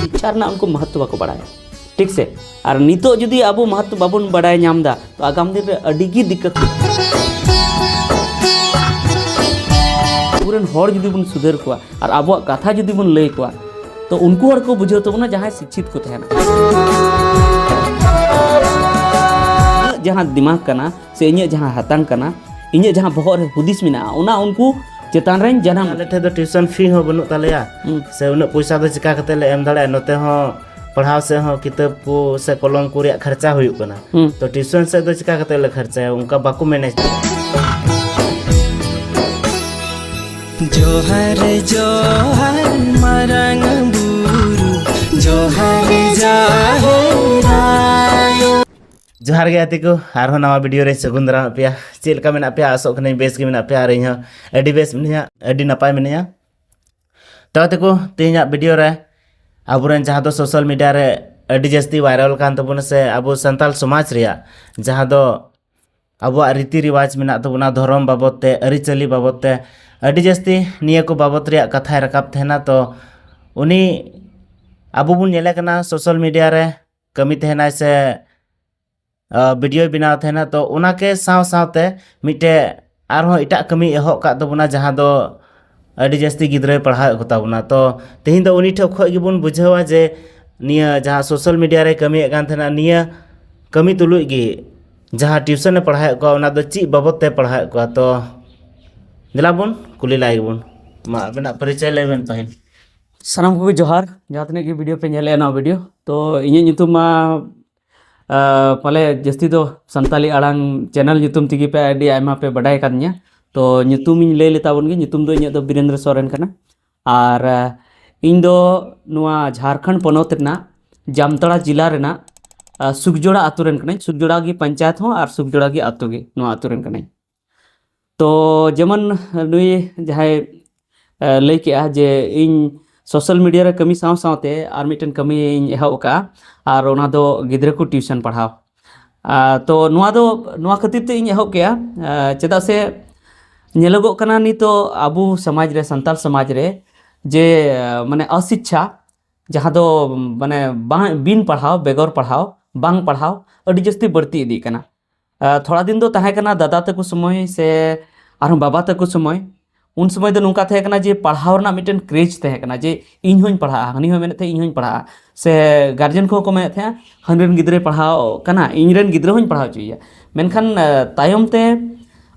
ᱥᱤᱠᱪᱷᱟ ᱨᱮᱱᱟᱜ ᱩᱱᱠᱩ ᱢᱚᱦᱚᱛᱛᱚ ᱵᱟᱠᱚ ᱵᱟᱲᱟᱭᱟ ᱴᱷᱤᱠ ᱥᱮ ᱟᱨ ᱱᱤᱛᱚᱜ ᱡᱩᱫᱤ ᱟᱵᱚ ᱢᱚᱦᱚᱛᱛᱚ ᱵᱟᱵᱚᱱ ᱵᱟᱲᱟᱭ ᱧᱟᱢ ᱮᱫᱟ ᱛᱚ ᱟᱜᱟᱢ ᱫᱤᱱ ᱨᱮ ᱟᱹᱰᱤ ᱜᱮ ᱫᱤᱠᱠᱟᱛ ᱟᱵᱚᱨᱮᱱ ᱦᱚᱲ ᱡᱩᱫᱤ ᱵᱚᱱ ᱥᱩᱫᱷᱟᱹᱨ ᱠᱚᱣᱟ ᱟᱨ ᱟᱵᱚᱣᱟᱜ ᱠᱟᱛᱷᱟ ᱡᱩᱫᱤ ᱵᱚᱱ ᱞᱟᱹᱭ ᱠᱚᱣᱟ ᱛᱚ ᱩᱱᱠᱩ ᱦᱚᱲ ᱠᱚ ᱵᱩᱡᱷᱟᱹᱣ ᱛᱟᱵᱚᱱᱟ ᱡᱟᱦᱟᱸᱭ ᱥᱤᱠᱪᱷᱤᱛ ᱠᱚ ᱛᱟᱦᱮᱱᱟ ᱡᱟᱦᱟᱸ ᱫᱤᱢᱟᱜᱽ ᱠᱟᱱᱟ ᱥᱮ ᱤᱧᱟᱹᱜ ᱡᱟᱦᱟᱸ ᱦᱟᱛᱟᱝ ᱠᱟᱱᱟ ᱤᱧᱟᱹᱜ ᱡᱟᱦᱟᱸ ᱵᱚᱦᱚᱜ ᱨᱮ ᱦᱩᱫᱤᱥ ᱢᱮᱱᱟᱜᱼᱟ ᱚᱱᱟ ᱩᱱᱠᱩ ᱪᱮᱛᱟᱱ ᱨᱮᱧ ᱡᱟᱱᱟᱢ ᱟᱞᱮ ᱴᱷᱮᱱ ᱫᱚ ᱴᱤᱭᱩᱥᱚᱱ ᱯᱷᱤ ᱦᱚᱸ ᱵᱟᱹᱱᱩᱜ ᱛᱟᱞᱮᱭᱟ ᱥᱮ ᱩᱱᱟᱹᱜ ᱯᱚᱭᱥᱟ ᱫᱚ ᱪᱤᱠᱟ ᱠᱟᱛᱮ ᱞᱮ ᱮᱢ ᱫᱟᱲᱮᱭᱟᱜᱼᱟ ᱱᱚᱛᱮ ᱦᱚᱸ ᱯᱟᱲᱦᱟᱣ ᱥᱮᱫ ᱦᱚᱸ ᱠᱤᱛᱟᱹᱵ ᱠᱚ ᱥᱮ ᱠᱚᱞᱚᱢ ᱠᱚ ᱨᱮᱭᱟᱜ ᱠᱷᱚᱨᱪᱟ ᱦᱩᱭᱩᱜ ᱠᱟᱱᱟ ᱛᱚ ᱴᱤᱭᱩᱥᱚᱱ ᱥᱮᱫ ᱫᱚ ᱪᱤᱠᱟ ᱠᱟᱛᱮ ᱞᱮ ᱠᱷᱚᱨᱪᱟᱭᱟ ᱚᱱᱠᱟ ᱵᱟᱠᱚ ᱢᱮᱱᱮᱡ ᱡᱚᱦᱟᱨ ᱡᱚᱦᱟᱨ ᱢᱟᱨᱟᱝ ᱵᱩᱨᱩ ᱡᱚᱦᱟᱨ ᱡᱚᱦᱟᱨ ᱡᱚᱦᱟᱨ ᱜᱮ ᱟᱛᱮ ᱠᱚ ᱟᱨᱦᱚᱸ ᱱᱟᱣᱟ ᱵᱷᱤᱰᱤᱭᱳ ᱨᱮ ᱥᱟᱹᱜᱩᱱ ᱫᱟᱨᱟᱢ ᱯᱮᱭᱟ ᱪᱮᱫ ᱞᱮᱠᱟ ᱢᱮᱱᱟᱜ ᱯᱮᱭᱟ ᱟᱥᱚᱜ ᱠᱟᱹᱱᱟᱹᱧ ᱵᱮᱥ ᱜᱮ ᱢᱮᱱᱟᱜ ᱯᱮᱭᱟ ᱟᱨ ᱤᱧ ᱦᱚᱸ ᱟᱹᱰᱤ ᱵᱮᱥ ᱢᱤᱱᱟᱹᱧᱟ ᱟᱹᱰᱤ ᱱᱟᱯᱟᱭ ᱢᱤᱱᱟᱹᱧᱟ ᱛᱚ ᱟᱛᱮ ᱠᱚ ᱛᱮᱦᱮᱧᱟᱜ ᱵᱷᱤᱰᱤᱭᱳ ᱨᱮ ᱟᱵᱚᱨᱮᱱ ᱡᱟᱦᱟᱸ ᱫᱚ ᱥᱳᱥᱟᱞ ᱢᱤᱰᱤᱭᱟ ᱨᱮ ᱟᱹᱰᱤ ᱡᱟᱹᱥᱛᱤ ᱵᱷᱟᱭᱨᱟᱞ ᱠᱟᱱ ᱛᱟᱵᱚᱱᱟ ᱥᱮ ᱟᱵᱚ ᱥᱟᱱᱛᱟᱲ ᱥᱚᱢᱟᱡᱽ ᱨᱮᱭᱟᱜ ᱡᱟᱦᱟᱸ ᱫᱚ ᱟᱵᱚᱣᱟᱜ ᱨᱤᱛᱤ ᱨᱤᱣᱟᱡᱽ ᱢᱮᱱᱟᱜ ᱛᱟᱵᱚᱱᱟ ᱫᱷᱚᱨᱚᱢ ᱵᱟᱵᱚᱫ ᱛᱮ ᱟᱹᱨᱤᱪᱟᱹᱞᱤ ᱵᱟᱵᱚᱫ ᱛᱮ ᱟᱹᱰᱤ ᱡᱟᱹᱥᱛᱤ ᱱᱤᱭᱟᱹ ᱠᱚ ᱵᱟᱵᱚᱫ ᱨᱮᱭᱟᱜ ᱠᱟᱛᱷᱟᱭ ᱨᱟᱠᱟᱵ ᱛᱟᱦᱮᱱᱟ ᱛᱚ ᱩᱱᱤ ᱟᱵᱚ ᱵᱚᱱ ᱧᱮᱞᱮ ᱠᱟᱱᱟ ᱥᱳᱥᱟᱞ ᱢᱤᱰᱤᱭᱟ ᱨᱮ ᱠᱟᱹᱢᱤ ᱛᱟᱦᱮᱱᱟᱭ ᱥᱮ ᱵᱷᱤᱰᱤᱭᱳᱭ ᱵᱮᱱᱟᱣ ᱛᱟᱦᱮᱱᱟ ᱛᱚ ᱚᱱᱟᱠᱮ ᱥᱟᱶ ᱥᱟᱶᱛᱮ ᱢᱤᱫᱴᱮᱡ ᱟᱨᱦᱚᱸ ᱮᱴᱟᱜ ᱠᱟᱹᱢᱤ ᱮᱦᱚᱵ ᱠᱟᱜ ᱛᱟᱵᱚᱱᱟ ᱡᱟᱦᱟᱸ ᱫᱚ ᱟᱹᱰᱤ ᱡᱟᱹᱥᱛᱤ ᱜᱤᱫᱽᱨᱟᱹᱭ ᱯᱟᱲᱦᱟᱣᱮᱫ ᱠᱚᱛᱟ ᱵᱚᱱᱟ ᱛᱚ ᱛᱮᱦᱮᱧ ᱫᱚ ᱩᱱᱤ ᱴᱷᱮᱡ ᱠᱷᱚᱡ ᱜᱮᱵᱚᱱ ᱵᱩᱡᱷᱟᱹᱣᱟ ᱡᱮ ᱱᱤᱭᱟᱹ ᱡᱟᱦᱟᱸ ᱥᱳᱥᱟᱞ ᱢᱤᱰᱤᱭᱟ ᱨᱮ ᱠᱟᱹᱢᱤᱭᱮᱫ ᱠᱟᱱ ᱛᱟᱦᱮᱱᱟ ᱱᱤᱭᱟᱹ ᱠᱟᱹᱢᱤ ᱛᱩᱞᱩᱡ ᱜᱮ ᱡᱟᱦᱟᱸ ᱴᱤᱭᱩᱥᱚᱱᱮ ᱯᱟᱲᱦᱟᱣᱮᱫ ᱠᱚᱣᱟ ᱚᱱᱟ ᱫᱚ ᱪᱮᱫ ᱵᱟᱵᱚᱫ ᱛᱮ ᱯᱟᱲᱦᱟᱣᱮᱫ ᱠᱚᱣᱟ ᱛᱚ ᱫᱮᱞᱟ ᱵᱚᱱ ᱠᱩᱞᱤ ᱞᱟᱭ ᱜᱮᱵᱚᱱ ᱢᱟ ᱟᱵᱮᱱᱟᱜ ᱯᱚᱨᱤᱪᱚᱭ ᱞᱟᱹᱭ ᱵᱮᱱ ᱯᱟᱹᱦᱤᱞ ᱥᱟᱱᱟᱢ ᱠᱚᱜᱮ ᱡᱚᱦᱟᱨ ᱡᱟᱦᱟᱸ ᱛᱤᱱᱟᱹᱜ ᱜᱮ ᱵᱷᱤᱰᱤᱭᱳ ᱯᱮ ᱧᱮᱞᱮᱫᱼᱟ ᱱᱚᱣᱟ ᱵᱷᱤᱰᱤᱭᱳ ᱛᱚ ᱤᱧᱟᱹᱜ ᱧᱩᱛᱩᱢ ᱢᱟ ᱯᱟᱞᱮ ᱡᱟᱹᱥᱛᱤ ᱫᱚ ᱥᱟᱱᱛᱟᱞᱤ ᱟᱲᱟᱝ ᱪᱮᱱᱮᱞ ᱧᱩᱛᱩᱢ ᱛᱮᱜᱮ ᱯᱮ ᱟᱹᱰᱤ ᱟᱭᱢᱟ ᱯᱮ ᱵᱟᱰᱟᱭ ᱠᱟᱫᱤᱧᱟ ᱛᱚ ᱧᱩᱛᱩᱢᱤᱧ ᱞᱟᱹᱭ ᱞᱮᱛᱟ ᱵᱚᱱ ᱜᱮ ᱧᱩᱛᱩᱢ ᱫᱚ ᱤᱧᱟᱹᱜ ᱫᱚ ᱵᱤᱨᱮᱱᱫᱨᱚ ᱥᱚᱨᱮᱱ ᱠᱟᱱᱟ ᱟᱨ ᱤᱧ ᱫᱚ ᱱᱚᱣᱟ ᱡᱷᱟᱲᱠᱷᱚᱸᱰ ᱯᱚᱱᱚᱛ ᱨᱮᱱᱟᱜ ᱡᱟᱢᱛᱟᱲᱟ ᱡᱮᱞᱟ ᱨᱮᱱᱟᱜ ᱥᱩᱠᱡᱚᱲᱟ ᱟᱛᱳ ᱨᱮᱱ ᱠᱟᱹᱱᱟᱹᱧ ᱥᱩᱠᱡᱚᱲᱟ ᱜᱮ ᱯᱚᱧᱪᱟᱭᱮᱛ ᱦᱚᱸ ᱟᱨ ᱥᱩᱠᱡᱚᱲᱟ ᱜᱮ ᱟᱛᱳ ᱜᱮ ᱱᱚᱣᱟ ᱟᱛᱳ ᱨᱮᱱ ᱠᱟᱹᱱᱟᱹᱧ ᱛᱚ ᱡᱮᱢᱚᱱ ᱱᱩᱭ ᱡᱟᱦᱟᱸᱭ ᱞᱟᱹᱭ ᱠᱮᱜᱼᱟ ᱡᱮ ᱤᱧ ᱥᱳᱥᱟᱞ ᱢᱤᱰᱤᱭᱟ ᱨᱮ ᱠᱟᱹᱢᱤ ᱥᱟᱶ ᱥᱟᱶᱛᱮ ᱟᱨ ᱢᱤᱫᱴᱮᱱ ᱠᱟᱹᱢᱤᱧ ᱮᱦᱚᱵ ᱟᱠᱟᱫᱼᱟ ᱟᱨ ᱚᱱᱟ ᱫᱚ ᱜᱤᱫᱽᱨᱟᱹ ᱠᱚ ᱴᱤᱭᱩᱥᱚᱱ ᱯᱟᱲᱦᱟᱣ ᱛᱚ ᱱᱚᱣᱟ ᱫᱚ ᱱᱚᱣᱟ ᱠᱷᱟᱹᱛᱤᱨ ᱛᱮ ᱤᱧ ᱮᱦᱚᱵ ᱠᱮᱜᱼᱟ ᱪᱮᱫᱟᱜ ᱥᱮ ᱧᱮᱞᱚᱜᱚᱜ ᱠᱟᱱᱟ ᱱᱤᱛᱚᱜ ᱟᱵᱚ ᱥᱚᱢᱟᱡᱽ ᱨᱮ ᱥᱟᱱᱛᱟᱲ ᱥᱚᱢᱟᱡᱽ ᱨᱮ ᱡᱮ ᱢᱟᱱᱮ ᱚᱥᱤᱪᱪᱷᱟ ᱡᱟᱦᱟᱸ ᱫᱚ ᱢᱟᱱᱮ ᱵᱟᱝ ᱵᱤᱱ ᱯᱟᱲᱦᱟᱣ ᱵᱮᱜᱚᱨ ᱯᱟᱲᱦᱟᱣ ᱵᱟᱝ ᱯᱟᱲᱦᱟᱣ ᱟᱹᱰᱤ ᱡᱟᱹᱥᱛᱤ ᱵᱟᱹᱲᱛᱤ ᱤᱫᱤᱜ ᱠᱟᱱᱟ ᱛᱷᱚᱲᱟ ᱫᱤᱱ ᱫᱚ ᱛᱟᱦᱮᱸ ᱠᱟᱱᱟ ᱫᱟᱫᱟ ᱛᱟᱠᱚ ᱥᱚᱢᱚᱭ ᱥᱮ ᱟᱨᱦᱚᱸ ᱵᱟᱵᱟ ᱛᱟᱠᱚ ᱥᱚᱢᱚᱭ ᱩᱱ ᱥᱚᱢᱚᱭ ᱫᱚ ᱱᱚᱝᱠᱟ ᱛᱟᱦᱮᱸ ᱠᱟᱱᱟ ᱡᱮ ᱯᱟᱲᱦᱟᱣ ᱨᱮᱱᱟᱜ ᱢᱤᱫᱴᱮᱱ ᱠᱨᱮᱡᱽ ᱛᱟᱦᱮᱸ ᱠᱟᱱᱟ ᱡᱮ ᱤᱧ ᱦᱚᱧ ᱯᱟᱲᱦᱟᱜᱼᱟ ᱦᱟᱹᱱᱤ ᱦᱚᱸ ᱢᱮᱱᱮᱫ ᱛᱟᱦᱮᱸᱫ ᱤᱧ ᱦᱚᱧ ᱯᱟᱲᱦᱟᱜᱼᱟ ᱥᱮ ᱜᱟᱨᱡᱮᱱ ᱠᱚᱦᱚᱸ ᱠᱚ ᱢᱮᱱᱮᱫ ᱛᱟᱦᱮᱸᱫᱼᱟ ᱦᱟᱹᱱᱤ ᱨᱮᱱ ᱜᱤᱫᱽᱨᱟᱹᱭ ᱯᱟᱲᱦᱟᱣ ᱠᱟᱱᱟ ᱤᱧ ᱨᱮᱱ ᱜᱤᱫᱽᱨᱟᱹ ᱦᱚᱧ ᱯᱟᱲᱦᱟᱣ ᱦᱚᱪᱚᱭᱮᱭᱟ ᱢᱮᱱᱠᱷᱟᱱ ᱛᱟᱭᱚᱢ ᱛᱮ